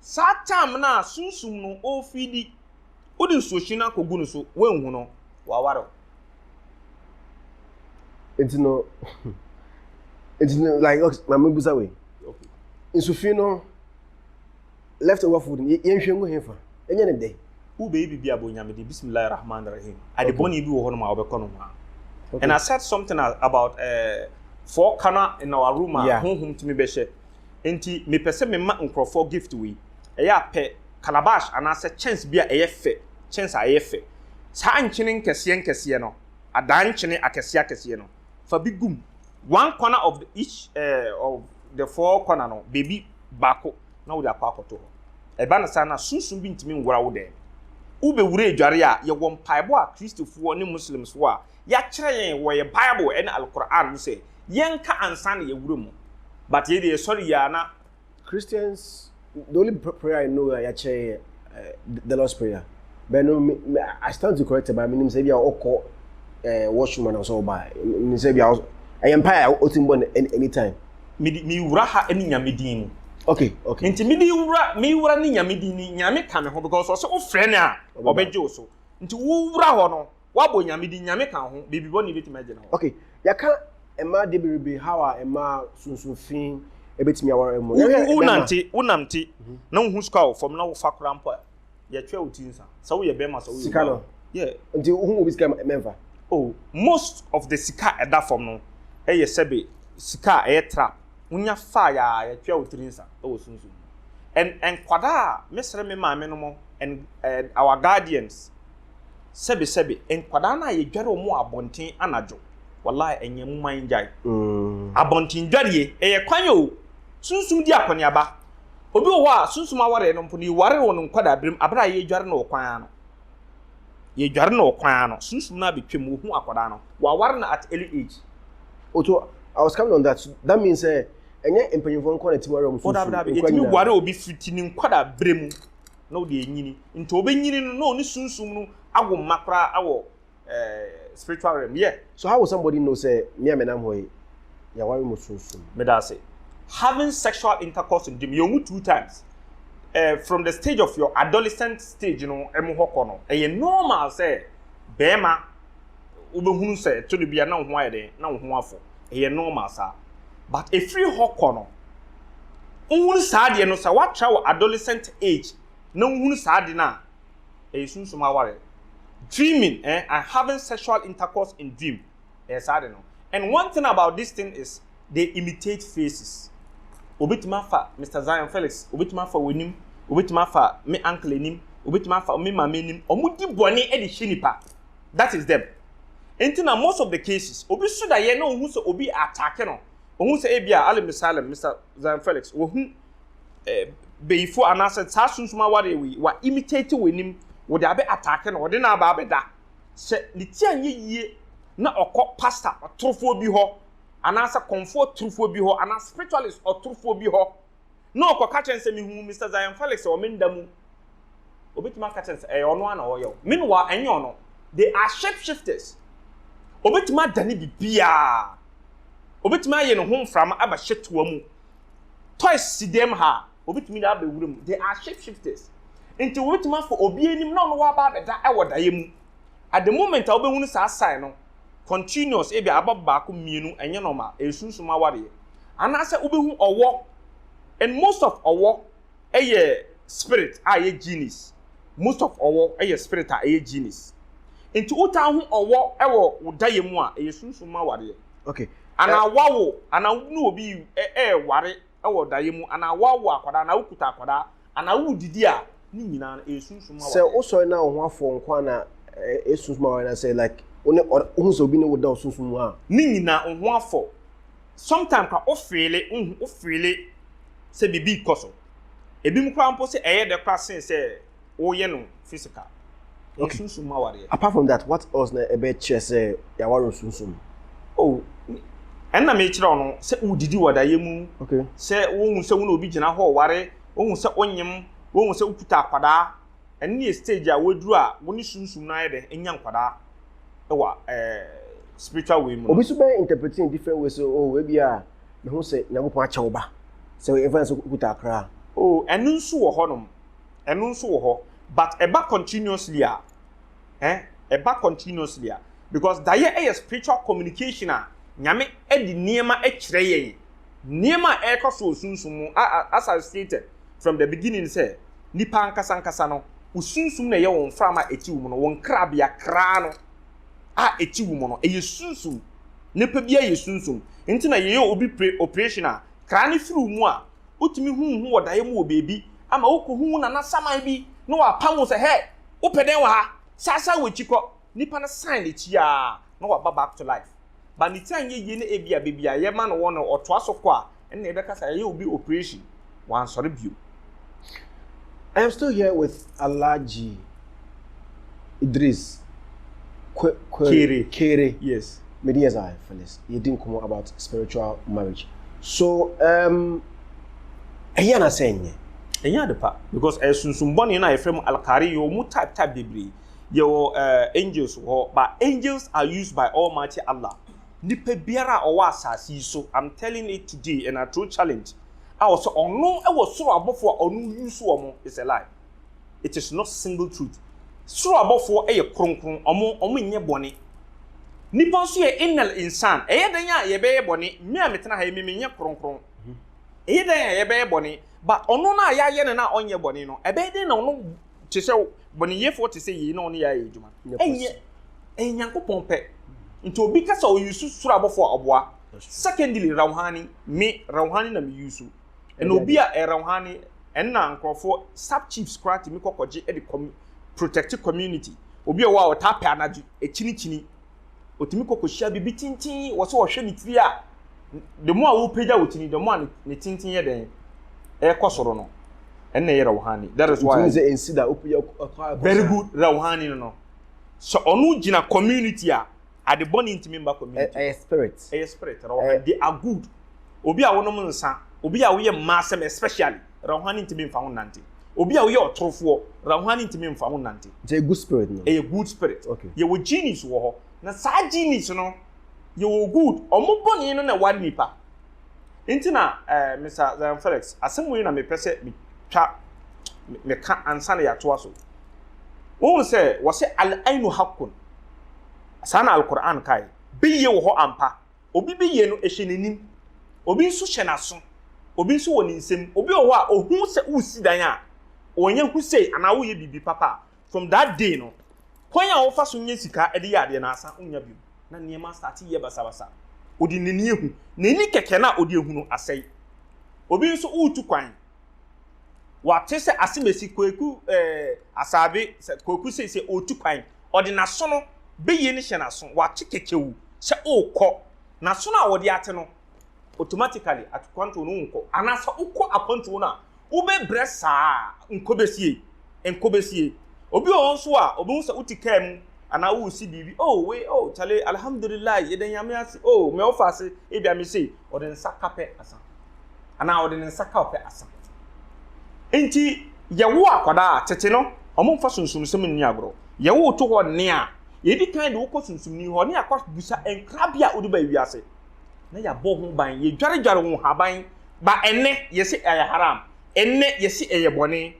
Speaker 3: Saa tam no a sunsum no ɔrefeedi, wode nsuohye no akɔgu no so, woanhu no, waware wo.
Speaker 2: Nti no, nti no, like, okay, ma mebisa wei.
Speaker 3: Nsufi no,
Speaker 2: left over food, yɛnhwɛ ngu hefa, ɛnyɛ ne dɛ. Wobɛyɛ biribi a bɔ
Speaker 3: Nyame din, Bismillah Rahman Rahim. Ade bɔne bi wɔ hɔ nom a wobɛkɔ no ho a. And I said something about uh, fɔɔ kana in our room a yeah. honhom tumi bɛhyɛ. Enti mepɛ sɛ mema nkurɔfoɔ gift wei. Ɛyɛ a pɛ calabash anaasɛ kyɛnse bi a ɛyɛ fɛ, kyɛnse a ɛyɛ fɛ. Saa nkyene nkɛseɛ nkɛseɛ no, adan nkyene akɛseɛ akɛseɛ no, fa bi gu mu. One corner of the each eh, of the four corner no, baabi baako na wode akɔ akɔto hɔ. Ɛba no saa no a, sunsum bi ntumi nwura wo dan mu. Wobɛwura adwareɛ a, yɛwɔ mpaebɔ a Kristofoɔ ne Muslims wɔ a yɛakyerɛ yɛn wɔ yɛn Bible ne Al-Qur'aan mu sɛ, yɛnka ansa na yɛawura mu but yɛn deɛ yɛsɔre yie a na Christians,
Speaker 2: the only prayer I know a yɛakyerɛ yɛ eh, the Lord's Prayer. But no, me, me, I stand to correct it, but menim sɛ bi a ɔkɔ eh, washroom ana sɛ ɔba. Menim sɛ bi a ɔs- ɛyɛ mpaeɛ a ɔtumi bɔ no any- anytime. mede mewura
Speaker 3: ha ne nyame din mu Okay, okay. nti
Speaker 2: mede wura
Speaker 3: mewura ne nyame din ni nyame ka me ho because ɔsɛ wofrɛ no a Ɔbɛba. ɔbɛgye wo so nti wowura hɔ no Woabɔ Nyame din, Nyame ka wo ho, baabi bɔne bɛtumi agyina hɔ. Okay, yɛaka
Speaker 2: mmaa de berebee how a mmaa sunsun fi ɛbɛtumi aware wɔn. Yɛhwɛ bɛrima. Wonante, wonante,
Speaker 3: mhm. na wohu sika wɔ fam na wofa koraa mpo a, yɛtwɛ wo
Speaker 2: ti
Speaker 3: nsa. Sɛ woyɛ
Speaker 2: bɛrima,
Speaker 3: sɛ woyɛ Sika no? Yeah. Nti
Speaker 2: wohu
Speaker 3: obi sika
Speaker 2: mɛmfa?
Speaker 3: Oh, most of the sika ɛda fam no, ɛyɛ sɛbe sika a ɛyɛ trap. Wonya faa yɛ a, yɛtwɛ wo tiri nsa wɔ sunsun. And nkwadaa a mesrɛ me maame no mo and uh, our guardians sɛbesɛbe nkwadaa no a yɛdware wɔn wɔ abɔnten anadwo wallahi ɛnyɛ mu man gyae mm. abɔnten dwareɛ ɛyɛ kwan o sunsum di akɔneaba obi wɔ hɔ a sunsum awareɛ no mpo no yɛware wɔ no nkwadaa berem aberɛ a yɛdware no wɔ kwan ano yɛdware no wɔ kwan ano sunsum no abɛtwam wɔhu akwadaa no wɔaware no at early age Oto,
Speaker 2: I was coming on that. That means sɛ eh, ɛnyɛ mpanyinfoɔ nkɔ na ti wari ɔmo sunsun nkɔ nyinaa. Ɛtumi wari obi
Speaker 3: fiti ne nkɔ da bere mu. na ɔde anyini nti ɔbɛnyini no na ɔne sunsum no awo mma koraa awɔ eh, spiritual realm yɛ. Yeah. So how will somebody know
Speaker 2: sɛ me a menam hɔ yi yɛaware mu sunsum? Meda ase.
Speaker 3: Having sexual intercourse in gym yɛ ɔmu two times eh, from the stage of your adolescent stage no ɛmu hɔ kɔ no ɛyɛ normal sɛ bɛrima wobɛhunu sɛ ɛto no bia na wo ho ayɛ den na wo ho afɔ ɛyɛ normal saa. But ɛfiri hɔ kɔ no, wohunu saa adeɛ no, sɛ woatra wɔ adolescent age na wohunu saa ade no a, ɛyɛ sunsum awareɛ. Dreaming eh, and having sexual intercourse in dream, ɛyɛ saa ade no. And one thing about this thing is, they imitate faces. Obɛtumi afa Mister Zion Felix, obɛtumi afa w'anim, obɛtumi afa me uncle anim, obɛtumi afa me maame anim, wɔdi bɔne de hyɛ nipa. that is them. Nti na most of the cases, obi su da yɛ na ohu sɛ obi attack no, ohu sɛ ebi a Ali Musalem, Mr. Zion Felix, wahu eh, beyifo anaasɛ saa sunsum aware wei, wa imitate wɔ anim, wɔde abɛ attack no, wɔde no aba abɛda. Sɛ ne ti anyɛ yie na ɔkɔ pastor ɔtorofoɔ bi hɔ, anaasɛ kɔmfoɔ torofoɔ bi hɔ, anaa spiritualist ɔtorofoɔ bi hɔ, na ɔkɔka kyerɛ no sɛ mehuu Mr. Zion Felix wɔ me nda mu. Obetumi aka kyerɛ no sɛ ɛyɛ ɔno ara na ɔyɛ o. Meanwhile, ɛnyɛ ɔno. They are shapeshifters. Obetumi adane biribiara. Obetumi ayɛ ne ho mframa aba hyɛtoa mu. Toys si dɛm ha a, obetumi de aba wura mu. They are shapeshifters. Nti wobetumi afa obi anim na ɔno waba abɛda wɔ daeɛ mu. At the moment a wobɛhunu saa sign no, continuous ebia aba baako mmienu ɛnyɛ normal ɛyɛ sunsum awareɛ anaasɛ wobɛhu ɔwɔ and most of ɔwɔ ɛyɛ spirit a ɛyɛ genies most of ɔwɔ ɛyɛ spirit a ɛyɛ genies nti wotaa ho ɔwɔ ɛwɔ wo dayɛ mu a ɛyɛ sunsum awareɛ okay anaa
Speaker 2: wawo
Speaker 3: anaa wobɛnu obi ɛɛware wɔ daeɛ mu anaa woawo akwadaa anaa wokuta akwadaa anaa woredidi a, ne nyinaa no ɛresunsum awareɛ. Sɛ wosɔre na wo ho
Speaker 2: afɔ
Speaker 3: wo
Speaker 2: nko ara na ɛresunsum awareɛ na sɛ like wo ne wohu sɛ obi ne wo da wo sunsum mu a. Ne nyinaa wo ho
Speaker 3: afɔ. Sometimes koraa wo feele wohu wo feele sɛ biribi rekɔ so. Ebinom koraa mpo sɛ ɛyɛ dɛ koraa sen sɛ. woyɛ no physical okay sunsun mu awareɛ apart from that what else
Speaker 2: na ɛbɛ kyerɛ sɛ yaware sunsun mu oh
Speaker 3: ɛnna mi kyerɛ ɔno sɛ wodidi wɔ dayɛ mu okay sɛ wohu
Speaker 2: sɛ wo
Speaker 3: na obi gyina hɔ ɔware wohu sɛ wonyem wohu sɛ wokuta akwadaa ɛne yɛ stage a waduru a wo ne sunsun no ayɛ dɛ nya nkwadaa ɛwɔ ɛɛ spiritual way mu obi so bɛ interpret in
Speaker 2: different ways o oh, ebi a mehu sɛ nyankopɔn akyɛ wo ba sɛ ɛfɛn sɛ wokuta akra o oh, ɛno nso
Speaker 3: wɔ hɔnom ɛno nso wɔ hɔ but ɛba continuously a eh ɛba continuously a because dayɛ ɛyɛ spiritual communication a nyame ɛde nneɛma ɛkyerɛ yɛn nneɛma a ɛrekɔ so wɔ sunsum mu a as I stated from the beginning sɛ nipa ankasa ankasa no wo sunsum na ɛyɛ wɔn mframa a ɛti wo mu no wɔn krabea kraa no a ɛti wo mu no ɛyɛ sunsum nipa bi ayɛ sunsum nti na yɛyɛ obi operation a kraa no firi wo mu a Wotumi hu wo ho wɔ daeɛ mu wɔ baabi ama wokohu wo nana saman bi na wapam wo sɛ hɛ! Wopɛ dɛn wɔ ha? Saasaa w'akyi kɔ! Nipa no san n'akyi a na waba back to life. But ne ti anyɛ yie na ebia baabi a yɛma no wɔ no ɔtoa so kɔ a ɛnna yɛbɛka sɛ yɛayɛ obi operation. Wansɔre bio.
Speaker 2: I am still here with Alhaji. Idris Kwe Kwe Kere. Kere. Yes. Me di yɛza
Speaker 3: for this.
Speaker 2: Yɛ di nkɔmɔ about spiritual marriage. So um, ɛyɛ na sɛ ɛnyɛ. Ɛnyɛ ade pa
Speaker 3: because ɛyɛ sunsun bɔne na yɛfrɛ mu alkari yɛ wɔn type type bebree. Yɛ wɔ uh, eh, angels wɔ hɔ but angels are used by Almighty Allah. Nipa biara a ɔwɔ asase yi so I'm telling it today and I throw challenge a ɔsɛ ɔno wɔ soro abɔfo a ɔno use wɔn is a lie. It is not single truth. Soro abɔfoɔ yɛ kronkron, wɔn wɔnyɛ bɔne. Nipa nso yɛ innal insan. Ɛyɛ dɛn a yɛbɛyɛ bɔne? Me a metena ha yi, me menyɛ kronkron. Ɛyɛ dɛn a yɛbɛyɛ bɔne? But ɔno no a yɛayɛ no no a ɔnyɛ bɔne no, ɛbɛyɛ dɛn na ɔno te sɛ bɔneyɛfoɔ te sɛ yei na ɔne yɛayɛ adwuma? Ɛnyɛ ɛyɛ Nyankopɔn pɛ. Nti obi ka sɛ ɔyusu soro abɔfoɔ a ɔboa. Secondly, Rauhani, me Rauhani na meyusu. ɛna obi a ɛrɛwhane ɛna nkurɔfoɔ sub chiefs koraa tumi kɔkɔgye ɛde kɔm protect community obi a wɔ a ɔtaa pɛ anadwo ɛkyinikyini ɔtumi kɔkɔhyia biribi tintin wɔ sɛ ɔhwɛ ne tiri a the more a wopagya wo tiri the more a ne tintin yɛ dɛn ɛkɔ soro no ɛna ɛyɛ rɛwhane that is why very good rɛwhane no no sɛ ɔno gyina community a Ade bɔne ntumi mma community hɔ. Ɛyɛ spirit. Ɛyɛ
Speaker 2: spirit. Rɔhan, they are
Speaker 3: good. Obi a wonom nsa, obi a woyɛ mmaasɛm especially, Rɔhan ntumi mfa ho nnante. Obi a woyɛ ɔtorofoɔ, Rɔhan ntumi mfa ho nnante. Nti ɛyɛ good spirit no?
Speaker 2: Ɛyɛ good spirit. Okay.
Speaker 3: Yɛwɔ genies
Speaker 2: wɔ hɔ.
Speaker 3: Na saa genies no, yɛwɔ good. Wɔn bɔne no na ɛware nnipa. Nti na eh, Mr. Zion Felix, asɛm wei na mepɛ sɛ metwa meka ansa na yɛatoa so. Wohu sɛ wɔsɛ al-ainu haqqun. Saa na Al-Qur'aan kae. Bɛyie wɔ hɔ ampa. Obi bɛyie no ɛhyɛ n'anim. Obi nso hyɛ n'aso. Obi nso wɔ ne nsam. Obi wɔ hɔ a, ɔhu sɛ woresi dan a, ɔnyɛ hu sei anaa woreyɛ biribi papa a, from that day no, kwan a ɔfa so nya sika de yɛ adeɛ no, asan nnya bio. Na nneɛma astate yɛ basabasa. Ɔde n'ani ahu. N'ani kɛkɛ no a ɔde ahu no, asɛe. Obi nso woretu kwan, wate sɛ Asemesi, Kwaku eh, Asaabe, Kwaku seisei ɔretu kwan. Ɔde n'asono bɛyie no hyɛ n'aso, w'ate kɛkyɛwu sɛ orekɔ. N'asono a ɔde ate no, automatically akwantuo no wonkɔ. Anaa sɛ wokɔ akwantuo no a, wobɛbrɛ saa ara, nkɔ bɛsie, nkɔ bɛsie. Obi wɔ hɔ nso a, ɔbɛhu sɛ wote kaa mu anaa woresi biribi, oh wei, oh kyale, alhamdulilahi, yɛda Nyame ase, oh me ɔfa ase, ebia me sei. ɔde ne nsa ka pɛ asa anaa ɔde ne nsa ka ɔpɛ asa nti yɛwo akwadaa tete no wɔn mfa sunsumsɛm nni agorɔ yɛwo to hɔ nne a yɛdi kan de wokɔ sunsumni hɔ ne akɔ busa nkra bi a wode ba wiase na yɛabɔ ho ban yɛdwaredware ho haban ba ɛnɛ yɛsi ɛyɛ haram ɛnɛ yɛsi ɛyɛ bɔne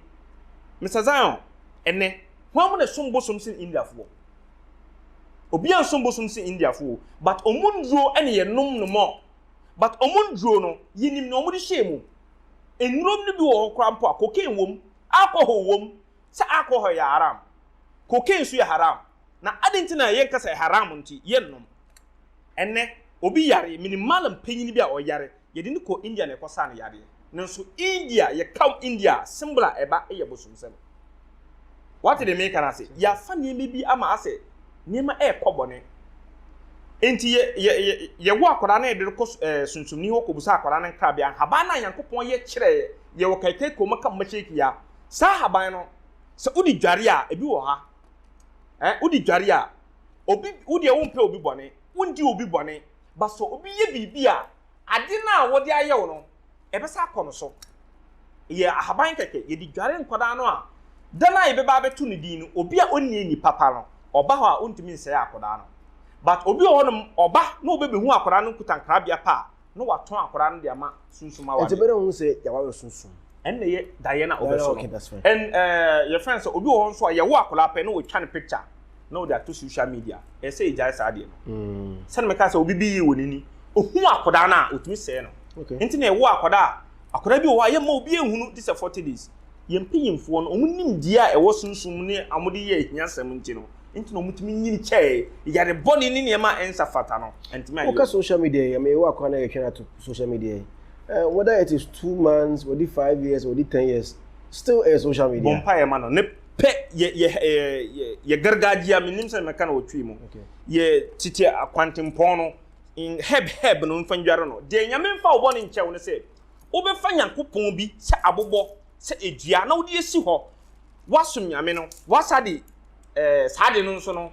Speaker 3: Mr. Zion ɛnɛ wɔn na som bosom sen Indiafoɔ Obi ansom bosom se Indiafo o but ɔmo nnuro ne yɛ nom no more but ɔmo nnuro no yenim nea ɔmo de hyɛɛ mu. Nnurom no bi wɔ hɔ koraa mpo a cocaine wom, alcohol wom, sɛ alcohol yɛ haram, cocaine nso yɛ haram na aden nti na yɛnka sɛ haram nti yɛnnom. Ɛnnɛ, obi yare, minim Mallam panyin bi a ɔyare, yɛde no kɔɔ India na ɛkɔsaa no yareɛ. Nanso India, yɛkaw India a, symbol a ɛba yɛ bosomsɛm. Woate deɛ mereka no ase? Yɛafa nneɛma bi ama asɛ nneɛma rekɔ bɔne. Enti yɛ, yɛ, yɛ, yɛwo akwadaa na yɛde no kɔ eh, sunsumni hɔ kɔbisa akwadaa no nkrabea. Nhaban no a Nyankopɔn yɛ kyerɛɛ yɛ wɔ Kaikai kurom aka Mashaki ha, saa haban no, sɛ wode dware a, ebi wɔ ha. Eh, wode dware a, obi, wo deɛ wompɛ obi bɔne, wondi obi bɔne, ba sɛ obi yɛ biribi a, ade no a wɔde ayɛ wo no, ɛbɛsa akɔ no so. Yɛ ahaban kɛkɛ, yɛde dware nkwadaa no a, da no a yɛbɛba abɛto no din no, obi a ɔnni ani papa no, ɔba hɔ a, ɔntumi nsɛe akwadaa no. But obi wɔ hɔnom, ɔba na ɔbɛbɛhu akwadaa no nkuta nkrabea pɛ a, na watõ akɔdaa no de ama sunsum awade. Ntsi ebɛnadze na ohun sɛ yɛawar
Speaker 2: sunsum? Ɛnna yɛ daeɛ
Speaker 3: na ɔbɛso no. And ɛɛ
Speaker 2: yɛfrɛ no
Speaker 3: sɛ obi wɔ hɔ nso a yɛwo akwadaa pɛ na wɔtwa ne picture na wɔde ato social media. Ɛsɛ sɛ yɛgyae saa adeɛ no. Mm. Sɛdeɛ meka sɛ obi bi yie wɔ n'ani ohun akwadaa no a otumi sɛe no. Okay. Nti na yɛwo
Speaker 2: akwadaa a
Speaker 3: akwadaa bi wɔ hɔ a yɛmma obi ehunu gye sɛ forty days. Yɛn mpanyinfoɔ no wɔn nimdeɛ a ɛwɔ sunsum ne wɔde yɛ ahiasɛm nti no Nti na wɔn tumi nyini kyɛɛ yare bɔne ne nneɛma a ɛnsa fata no. Ɛntumi ayɛ. Woka social media yi, ɛmɛ yɛwɔ
Speaker 2: akwan na yɛtwɛn ato social media yi. Uh, whether it is two months, wɔde five years, wɔde ten years, still ɛyɛ social media. Bɔ mpa yɛ ma no. Ne
Speaker 3: pɛ yɛ yɛ yɛ yɛ gargaagye a menim sɛ mɛka na wɔtwi mu. Yɛ tete akwantempɔn no in herb herb no mfa ndware no. Deɛ nyame mfa wobɔ ne nkyɛw no sɛ wobɛfa nyankopɔn bi sɛ abobɔ sɛ edua na wode asi hɔ Woasom Nyame no, woasa de eh, saa ade no nso no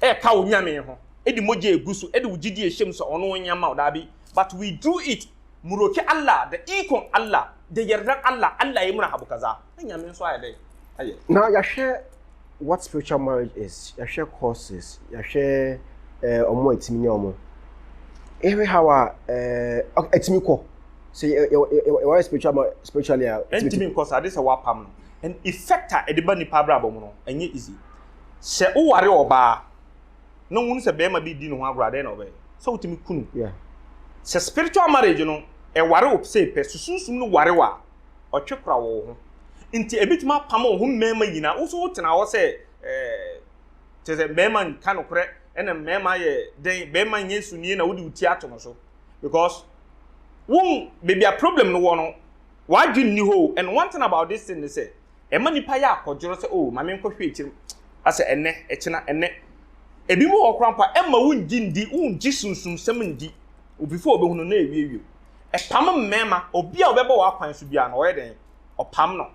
Speaker 3: ɛka wo Nyame ho, de mogya egu so, de wo gyidie ɛhyɛ mu sɛ ɔno ɔnyɛ mma wo, daabi, but we do it, muroke Allah, the ikon Allah, the yerdan Allah, Allah yɛ murahabu kaza, na Nyame nso ayɛ dɛn ayɛ. Now yɛahwɛ
Speaker 2: what spiritual marriage is, yɛahwɛ courses, yɛahwɛ eh, ɔmo a ɛtumi nya ɔmo. Yɛhwɛ how a eh, ɛtumi kɔ, sɛ yɛ yɛ yɛ yɛ wɔyɛ spiritual ma spiritually a. ɛntumi nkɔ so
Speaker 3: ade sɛ wapam no and effect a ɛde ba nipa abrabɔ mu no ɛnyɛ easy sɛ woware ɔbaa na wohunu sɛ bɛrima bi di ne ho agorɔ a dɛn na ɔbɛyɛ sɛ wotumi kunu
Speaker 2: sɛ spiritual
Speaker 3: marriage no ɛware wo sɛ pɛ so sunsum no ware wa ɔtwe kora wɔ wo ho nti ebitumi apam wo ho mmarima nyinaa woso wotena hɔ sɛ ɛɛ eh, kyerɛ sɛ mmarima nka nokorɛ ɛna mmarima yɛ dɛn bɛrima nyɛ sunie na wode wo ti ato no so because won baabi a problem no wɔ no w'adwene ni hɔ and one thing about this thing ne sɛ ɛma nipa yɛ akɔdworɔ sɛ oh maame nkɔhwɛ akyiri asɛ ɛnɛ ɛkyena ɛnɛ ebi mu wɔ koraa mpo a ɛma wongye ndi wongye sunsumsɛm ndi obi fo ɔbɛhu no na ɛwiewie ɛpam mmarima obi a ɔbɛbɔ w'akwan so biara no ɔyɛ dɛn ɔpam no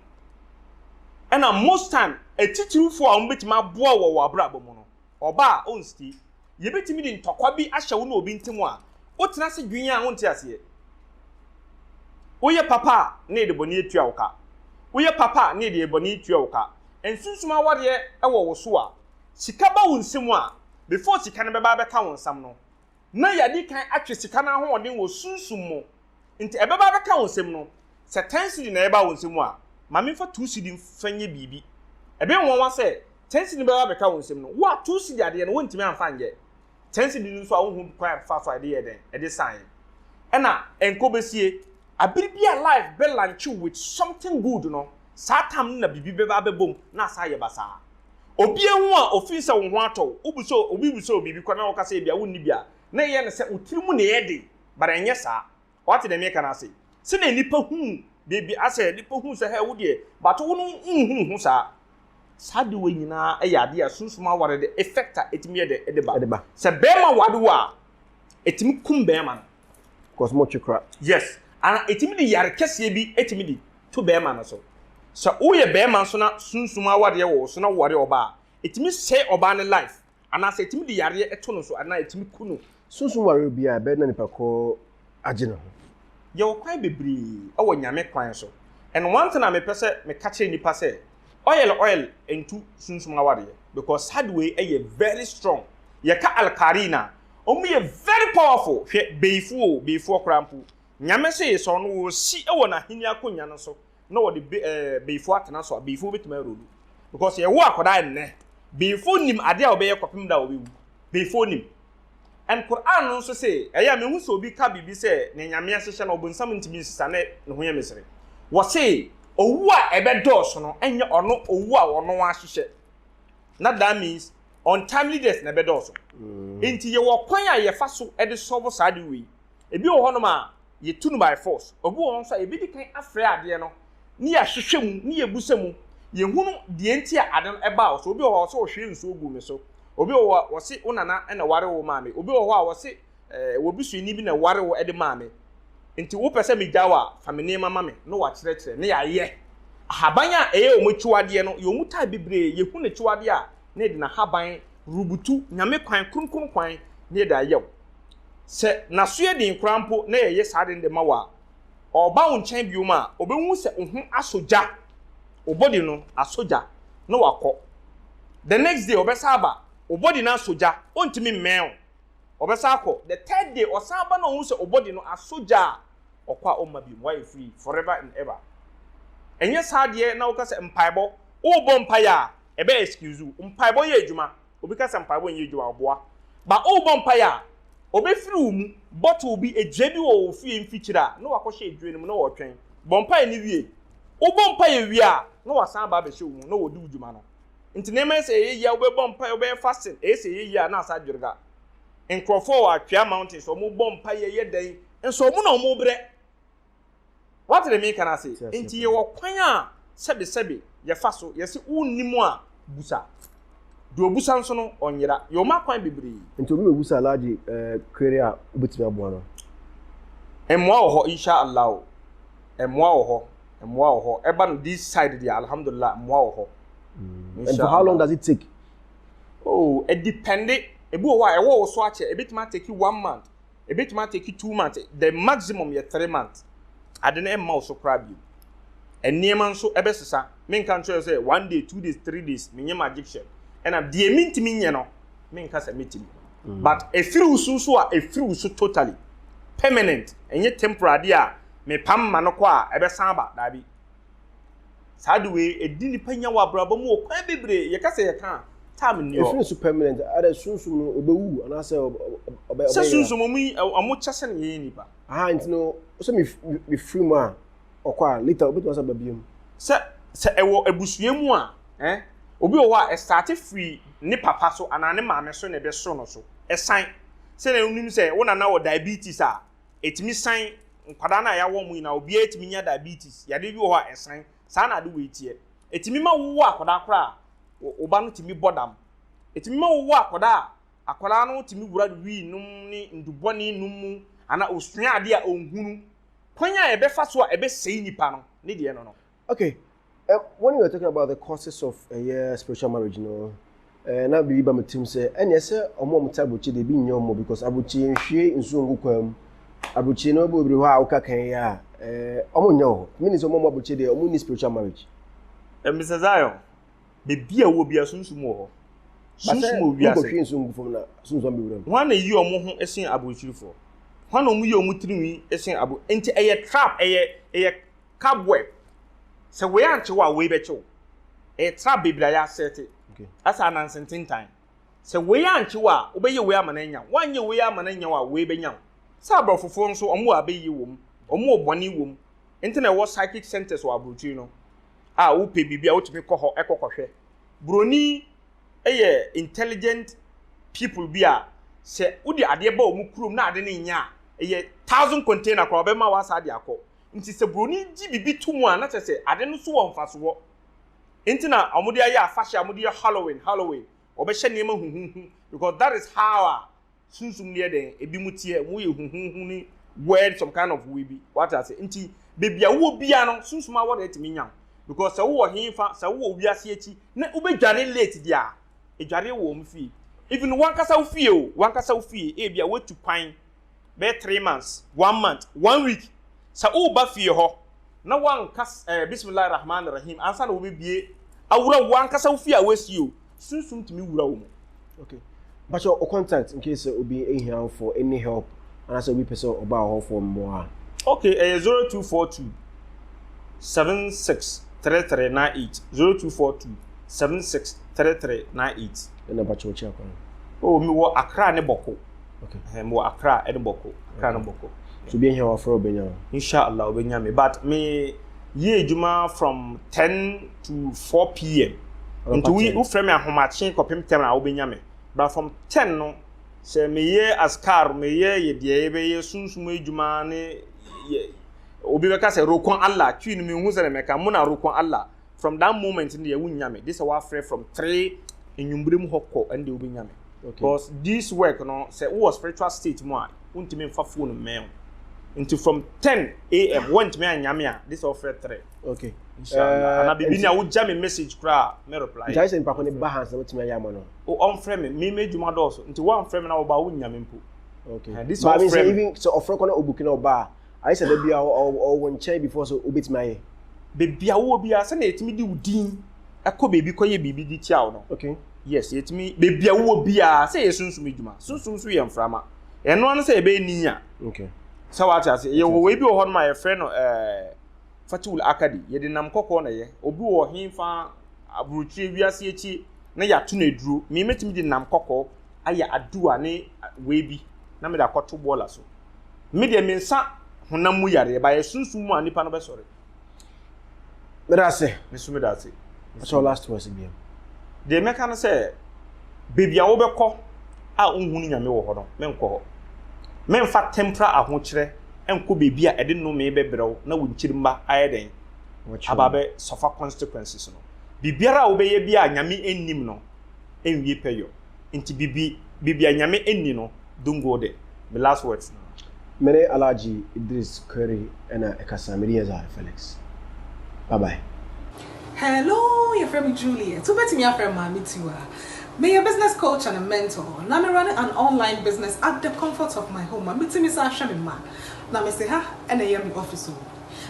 Speaker 3: ɛna most time atitirifoɔ a wɔbɛtumi aboa wɔ wɔ abrabɔ mu no Ɔba a onstie. Yebetumi de ntɔkwa bi ahyɛ wo ne obi ntam a, wotena ase dwen a wonte aseɛ. Woyɛ papa a, na yɛde bɔne atua wo ka. Woyɛ papa a, na yɛde yɛn bɔne atua wo ka. Nsunsum awareɛ wɔ wo so a, sika ba wo nsam a, before sika no bɛba abɛka wo nsam no, na yɛadi kan atwe sika no ahoɔden wɔ sunsum mu. Nti ɛbɛba abɛka wo nsam no, sɛ ten cedi na ɛba wo nsam a, ma memfa two cedi mfa nyɛ biribi. Ɛbɛyɛ nwonwa sɛ, ten cedi no bɛba abɛka wo nsam no, wo a two cedi adeɛ no wontumi amfa nyɛ. Ten cedi no nso a wonhu kwan a ɛbɛfa so a ɛde yɛɛ dɛn? Ɛde saeɛ. Ɛna ɛnkɔ bɛsie. Abere bi a life bɛ launch wo with something good no, saa time no na biribi bɛba abɛbɔ mu na asan ayɛ basaa. Obi ahu a ofeel sɛ wo ho atɔ wo, wobu sɛ obi bu sɛ ɔwɔ biribi kwa na woka sɛ ebia wonni bi a, na ɛyɛ no sɛ wo tiri mu na ɛyɛ den. but ɛnyɛ saa wate deɛ meka no ase sɛdeɛ nipa hu baabi asɛ nipa hu sɛ hɛ wo deɛ but wo no nhunu ho saa saa de wɔ nyinaa ɛyɛ adeɛ a sunsum aware de effect a ɛtumi yɛ dɛ ɛde ba ɛde ba sɛ bɛrima wade wɔ a ɛtumi kum bɛrima no because mo twe
Speaker 2: kora yes ana
Speaker 3: ɛtumi de yare kɛseɛ bi ɛtumi de to bɛrima no so sɛ woyɛ bɛrima nso na sunsum awadeɛ wɔ so na woware ɔbaa ɛtumi sɛ ɔbaa ne life anaasɛ ɛtumi de yareɛ to no so anaa ɛtumi ku no. Sunsum wareɛ biara
Speaker 2: ɛbɛyɛ na nipa korɔ agye ne ho. Yɛwɔ kwan
Speaker 3: bebree wɔ Nyame kwan so and one thing a mepɛ sɛ meka kyerɛ nipa sɛ oil oil ntu sunsum awareɛ because sad wei yɛ very strong yɛka alkarin a ɔmo yɛ very powerful hwɛ beyifo oo beyifoɔ koraa mpo Nyame se yesɔɔ no wɔ si wɔ n'ahenni akonwa no so na wɔde be ɛɛ eh, beyifo atena so a beyifo betumi arodu because yɛwo akwadaa nnɛ beyifo nim adeɛ a wɔbɛyɛ kɔpem da a wɔbɛwu beyifo nim and Quran no nso se ɛyɛ a mehu sɛ obi ka biribi sɛ ne nyame ahyehyɛ na ɔbonsam ntumi nsesa ne ne ho yɛ mesere wɔse owu a ɛbɛdɔɔso no ɛnyɛ ɔno owu a ɔno ahyehyɛ na that means untimely death na ɛbɛdɔɔso mm. nti yɛwɔ kwan a yɛfa so de sɔbo saa de wei Ebi wɔ hɔnom a, yɛtu no by force. Obi wɔ hɔ nso a, yɛbɛdi kan afrɛ adeɛ no ne yɛahwehwɛ mu, ne yɛbusa mu, yɛhunu deɛ nti a ade no baa wo so. Obi wɔ hɔ a, ɔse ɔhwiee nsuo guu me so. Obi wɔ hɔ a, ɔse wo nana na ɛwaree wo maa me. Obi wɔ hɔ a, ɔse w'abusuani bi na ɛwaree wo de maa me. Nti wopɛ sɛ megya wo a, fa me nneɛma ma me na wakyerɛkyerɛ na yɛayɛ. Ahaban a ɛyɛ wɔn akyiwadeɛ no, yɛwɔ mu type bebree. Yɛhunu no akyiwadeɛ a, na yɛde n'ahaban rebutu Nyame kwan, kronkron kwan, na yɛde ayɛ wo. Sɛ n'aso yɛ den koraa mpo na yɛyɛ saa ade no de ma wo a, ɔreba wo nkyɛn biom a, obehu sɛ wo ho asɔ gya, wo body no asɔ gya, na wakɔ. The next day ɔbɛsan aba, wo body no asɔ gya, ontumi mmɛn wo, ɔbɛsan akɔ. The third day ɔsan ba na ohu sɛ wo body no asɔ gya a, ɔkɔ a ɔmma biom, woayɛ free forever and ever. Ɛnyɛ saa deɛ na woka sɛ mpaebɔ, worebɔ mpaeɛ a ɛbɛ excuse wo. Mpaebɔ yɛ adwuma. Obi ka sɛ mpaebɔ nyɛ adwuma a, ɔboa. But worebɔ mpaeɛ a, wɔbɛfiri wo mu bottle bi, adua bi wɔ wo fie mfikyire a, na wɔakɔhyɛ adua no mu na wɔretwɛn. Bɔ mpaeɛ no wie. Wobɔ mpaeɛ wie a, na wɔasan aba abɛhyɛ wo mu na wɔredi wo dwuma no. Nti nneɛma ɛsɛ ɛyɛ yie a, wobɛbɔ mpaeɛ, wobɛyɛ fasting, ɛyɛ sɛ ɛyɛ yie a, na asa adwerga. Nkurɔfoɔ wɔ Atwea Mountains, wɔbɔ mpaeɛ yɛ dɛn? Nso wɔn na wɔrebrɛ. Woate deɛ mereka no ase? Enti yɛwɔ kwan a sɛbesɛbe yɛfa so, yɛse wonnim a, busa. Deɛ ɔbusa nso no, ɔnyera. Yɛwɔ mu akwan bebree. Nti obi bɛbusa Alhaji
Speaker 2: query a, wobɛtumi aboa no?
Speaker 3: Mmoa wɔ hɔ, Insha Allah o. Mmoa wɔ hɔ, mmoa wɔ hɔ. Ɛba no this side deɛ, Alhamdulillah, mmoa wɔ hɔ. Insha Allah. And for how
Speaker 2: long does it take? Oh,
Speaker 3: ɛdepɛnde. Ebi wɔ hɔ a, ɛwɔ wo so akyɛ. Ɛbɛtumi atake one month, Ebetumi atake two months, the maximum yɛ three months. Ade no mma wo so koraa bio. Nneɛma nso ɛbɛsesa. Menka nkyerɛ wo sɛ one day, two days, three days, menyɛ magician. Ɛnam deɛ mentumi nyɛ no, menka sɛ metumi. Mm. But ɛfiri wo so nso a, ɛfiri wo so totally. Permanent, ɛnyɛ temporary adeɛ a mepam ma no kɔ a ɛbɛsan aba, daabi. saa de wei ɛdi nnipa nya wɔ abrabɔ mu wɔ kwan bebree yɛka sɛ yɛka a time nni hɔ ɛfiri nso permanent ada
Speaker 2: sunsum no ɔbɛwu anaasɛ ɔbɛ sɛ sunsum ɔmo yi
Speaker 3: ɔmo kyɛ sɛ yɛyɛ nnipa aha nti no
Speaker 2: sɛ mefiri mu a ɔkɔ a later
Speaker 3: wobɛtumi
Speaker 2: sɛ babia mu
Speaker 3: sɛ
Speaker 2: sɛ
Speaker 3: ɛwɔ
Speaker 2: abusua mu a eh
Speaker 3: obi wɔ hɔ a ɛstate firi ne papa so anaa ne maame so na ɛbɛso no so ɛsan sɛ na wonim sɛ wo nana wɔ diabetes a ɛtumi san nkwadaa no a yɛawo wɔn nyinaa, obiara tumi nya diabetes, yadeɛ bi wɔ hɔ a ɛsan, saa na ade wei teɛ. Ɛtumi ma wowɔ akwadaa koraa a, wo ba no tumi bɔ dam. Ɛtumi ma wowɔ akwadaa a, akwadaa no tumi wura wii nom ne nnubɔne nom mu, anaa ɔsua adeɛ a ɔnhunu. Kwan a yɛbɛfa so a ɛbɛsɛe nipa no, ne deɛ no no. okay
Speaker 2: uh, when you were talking about the causes of uh, spiritual marriage you know uh, na biribi ba me tirim sɛ ɛneɛ sɛ ɔmo ɔmo te abrokyi de ebi nyɛ ɔmo because abrokyi nhwie nsuo ngu kwan mu abrokyi no ɛbɔ obiri hɔ a woka kan yi a eh, ɔmo nyɛ wɔ hɔ mini sɛ ɔmo ɔmo abrokyi deɛ ɔmo ni spiritual marriage eh, Mr.
Speaker 3: Zion bebi a wɔ bia sunsum wɔ hɔ sunsum wɔ wiase basɛ nsuo ngu fam na sunsum
Speaker 2: bi wuram wɔn na yi ɔmo ho
Speaker 3: ɛsen abrokyirifoɔ wɔn na ɔmo yi ɔmo tirinwi ɛsen abo nti ɛyɛ trap ɛyɛ ɛyɛ cobweb sɛ wei ankye wo a wei bɛkye wo ɛyɛ trap bebree a yɛasɛte asɛ ananse
Speaker 2: ntentan
Speaker 3: sɛ wei ankye wo a wobɛyɛ wei ama no anya wo woanyɛ wei ama no anya wo a wei bɛnya wo sɛ aborɔfofoɔ nso wɔn wɔ abɛyie wɔ mu wɔn wɔ bɔne wɔ mu nti na ɛwɔ psychic centers wɔ aburokyiri no a wopɛ biribi a wotumi kɔ hɔ ɛkɔ kɔhwɛ buroni yɛ intelligent people bi a sɛ wode adeɛ ba wɔn kurom na ade no nyɛ a ɛyɛ thousand container koraa ɔbɛma wo asa de akɔ Ntsi sɛ boroni gye biribi to mu a, na kyerɛ sɛ ade no so wɔ mfasoɔ. Enti na wɔde ayɛ afahyɛ a wɔde yɛ Halloween, Halloween, wɔbɛhyɛ nneɛma huhuuhu because that is how a sunsum no yɛ dɛn, ebinom teɛ, wɔyɛ huhuuhu ne weird some kind of way bi. Wate ase? Nti baabi a wowɔ biara no, sunsum awɔ dɛn tumi nya wo because sɛ wowɔ he fa, sɛ wowɔ wiase akyi na wobɛdware late deɛ a, ɛdwareɛ wɔ wɔn fie. Even w'ankasa wo fie o, w'ankasa wo fie, ebia woatu kwan, bɛyɛ three months, one month, one week, sɛ woreba fie hɔ na woanka eh, bismillah rahman rahim ansa na wobɛbie awura wo ankasa wo fie a woasi o, sunsum tumi wura wo mu. Okay.
Speaker 2: But your contact in case obi ehia for any help anaasɛ obi pɛ sɛ ɔba hɔ for mmoa. Okay, ɛyɛ 0242
Speaker 3: 763398 0242 763398. Ɛna bakyɛ ɔkyɛ akwan.
Speaker 2: Oh, mewɔ
Speaker 3: Accra ne Bɔko. okay eh mo
Speaker 2: akra e de
Speaker 3: bɔko akra no bɔko so bi ehia wa fro
Speaker 2: obenya inshallah obenya
Speaker 3: me but me ye adwuma from 10 to 4 pm nti wo wo frɛ me ahomakye kɔpem tɛm na wobɛnya me but from 10 no sɛ meyɛ askar meyɛ yɛdeɛ yɛbɛyɛ sunsum adwuma ne obi bɛka sɛ rokon allah twi no mehu sɛ ne mɛka mo na rokon allah from that moment no deɛ wonya me gye sɛ woafrɛ from three nnwumberem hɔ kɔ ɛne deɛ wobɛnya me because this work no sɛ wowɔ spiritual state mu a wontumi mfa phone mmɛn wo nti from 10 am wontumi annya me a gye sɛ wofrɛ three okay
Speaker 2: inshallah ana
Speaker 3: biribi ni a wogya me message koraa me reply gyae sɛ nipa ko ne ba ha
Speaker 2: sɛ wotumi ayɛ ama no ɔmfrɛ me me
Speaker 3: m'adwuma dɔɔso nti woamfrɛ me na woba wonnya me mpo okay this
Speaker 2: is even
Speaker 3: sɛ ɔfrɛ
Speaker 2: kɔ na
Speaker 3: ɔbuki
Speaker 2: na ɔba a Ayɛ sɛ da biara ɔwɔ wo nkyɛn before sɛ wobɛtumi ayɛ. Baabi a wowɔ
Speaker 3: biara, sɛdeɛ yɛtumi de wo din kɔ baabi kɔyɛ biribi de tia wo no. Okay. Yes, yɛtumi, baabi a wowɔ biara, sɛ yɛ sunsum adwuma. Sunsum nso yɛ mframa. Ɛno ano sɛ yɛbɛyɛ ni a. Okay. Sɛ
Speaker 2: wate ase,
Speaker 3: yɛwɔ wei bi wɔ hɔ no ma yɛfrɛ no ɛɛ eh, Fatul Akadi. Yɛde nam kɔkɔɔ na ɛyɛ. Obi wɔ he fa aburokyire wiase akyi na yɛato no aduro. Me mɛtumi de nam kɔkɔɔ ayɛ aduwa ne wei bi na mede akɔto bɔɔla so. Me deɛ me nsa honam mu yareɛ ba yɛ sunsum mu a nipa no bɛsɔre.
Speaker 2: Meda ase. Me so meda ase.
Speaker 3: Ɛsɛ last words
Speaker 2: bi. Deɛ mɛka
Speaker 3: no sɛ baabi a wobɛkɔ a wonhu ne nyame wɔ hɔ no menkɔ hɔ. Memfa temporal ahokyerɛ nkɔ baabi a ɛde nnome bɛbrɛw na wo nkyirimma ayɛ dɛn aba bɛ suffer consequences no. Biribiara a wobɛyɛ bi a nyame nnim no nwie pɛ yɔ. nti bibi bibia nyame nni no dungo de me last words no. Mene Alhaji
Speaker 2: Idris Kweri na ɛkasa, medin yɛ Zahar Felix. Bye bye. Hello,
Speaker 6: yɛfrɛ me Juliet, wobɛtumi afrɛ me Maame Tiwa. Meyɛ business coach and a mentor, na me runne an online business at the comfort of my home a metumi san hwɛ me mma. Na mese ha na ɛyɛ me office o.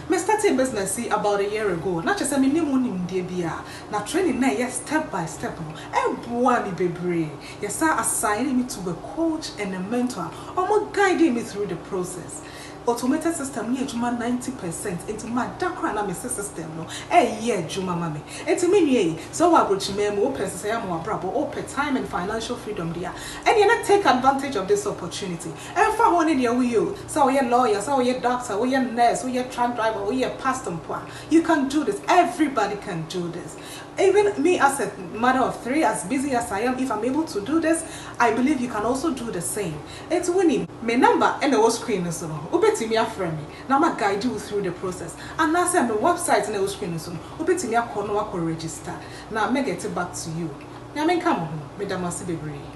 Speaker 6: Me startee business yi about a year ago na kyerɛ sɛ me nnim ho nimdeɛ biara na training no a ɛyɛ step by step no ɛboaa me bebree. Yɛ saa assign me to a coach and a mentor a wɔn guidee me through the process. Automated system no yɛ adwuma ninety percent nti mada koraa na mese system no ɛyɛ adwuma ma me. Nti me nua yi sɛ wowɔ abrokyimaa mu, wopɛ nsesaeɛ ama w'abrabɔ, wopɛ time and financial freedom deɛ a ɛneɛ na take advantage of this opportunity. Ɛmfa ho ne deɛ woyɛ o, Sɛ woyɛ lawyer, sɛ woyɛ doctor, woyɛ nurse, woyɛ truck driver, woyɛ pastor mpo a, you can do this, everybody can do this. Even me as a mother of three, as busy as I am, if I'm able to do this, I believe you can also do the same. Enti wonim. Me number na ɛwɔ screen no so no, wobɛtumi afrɛ me na ma guide wo through the process. Anaasɛ me website na ɛwɔ screen no so no, wobɛtumi akɔ na woakɔ register na mɛ gɛte back to you. Nyame nka mo ho, meda mo ase bebree.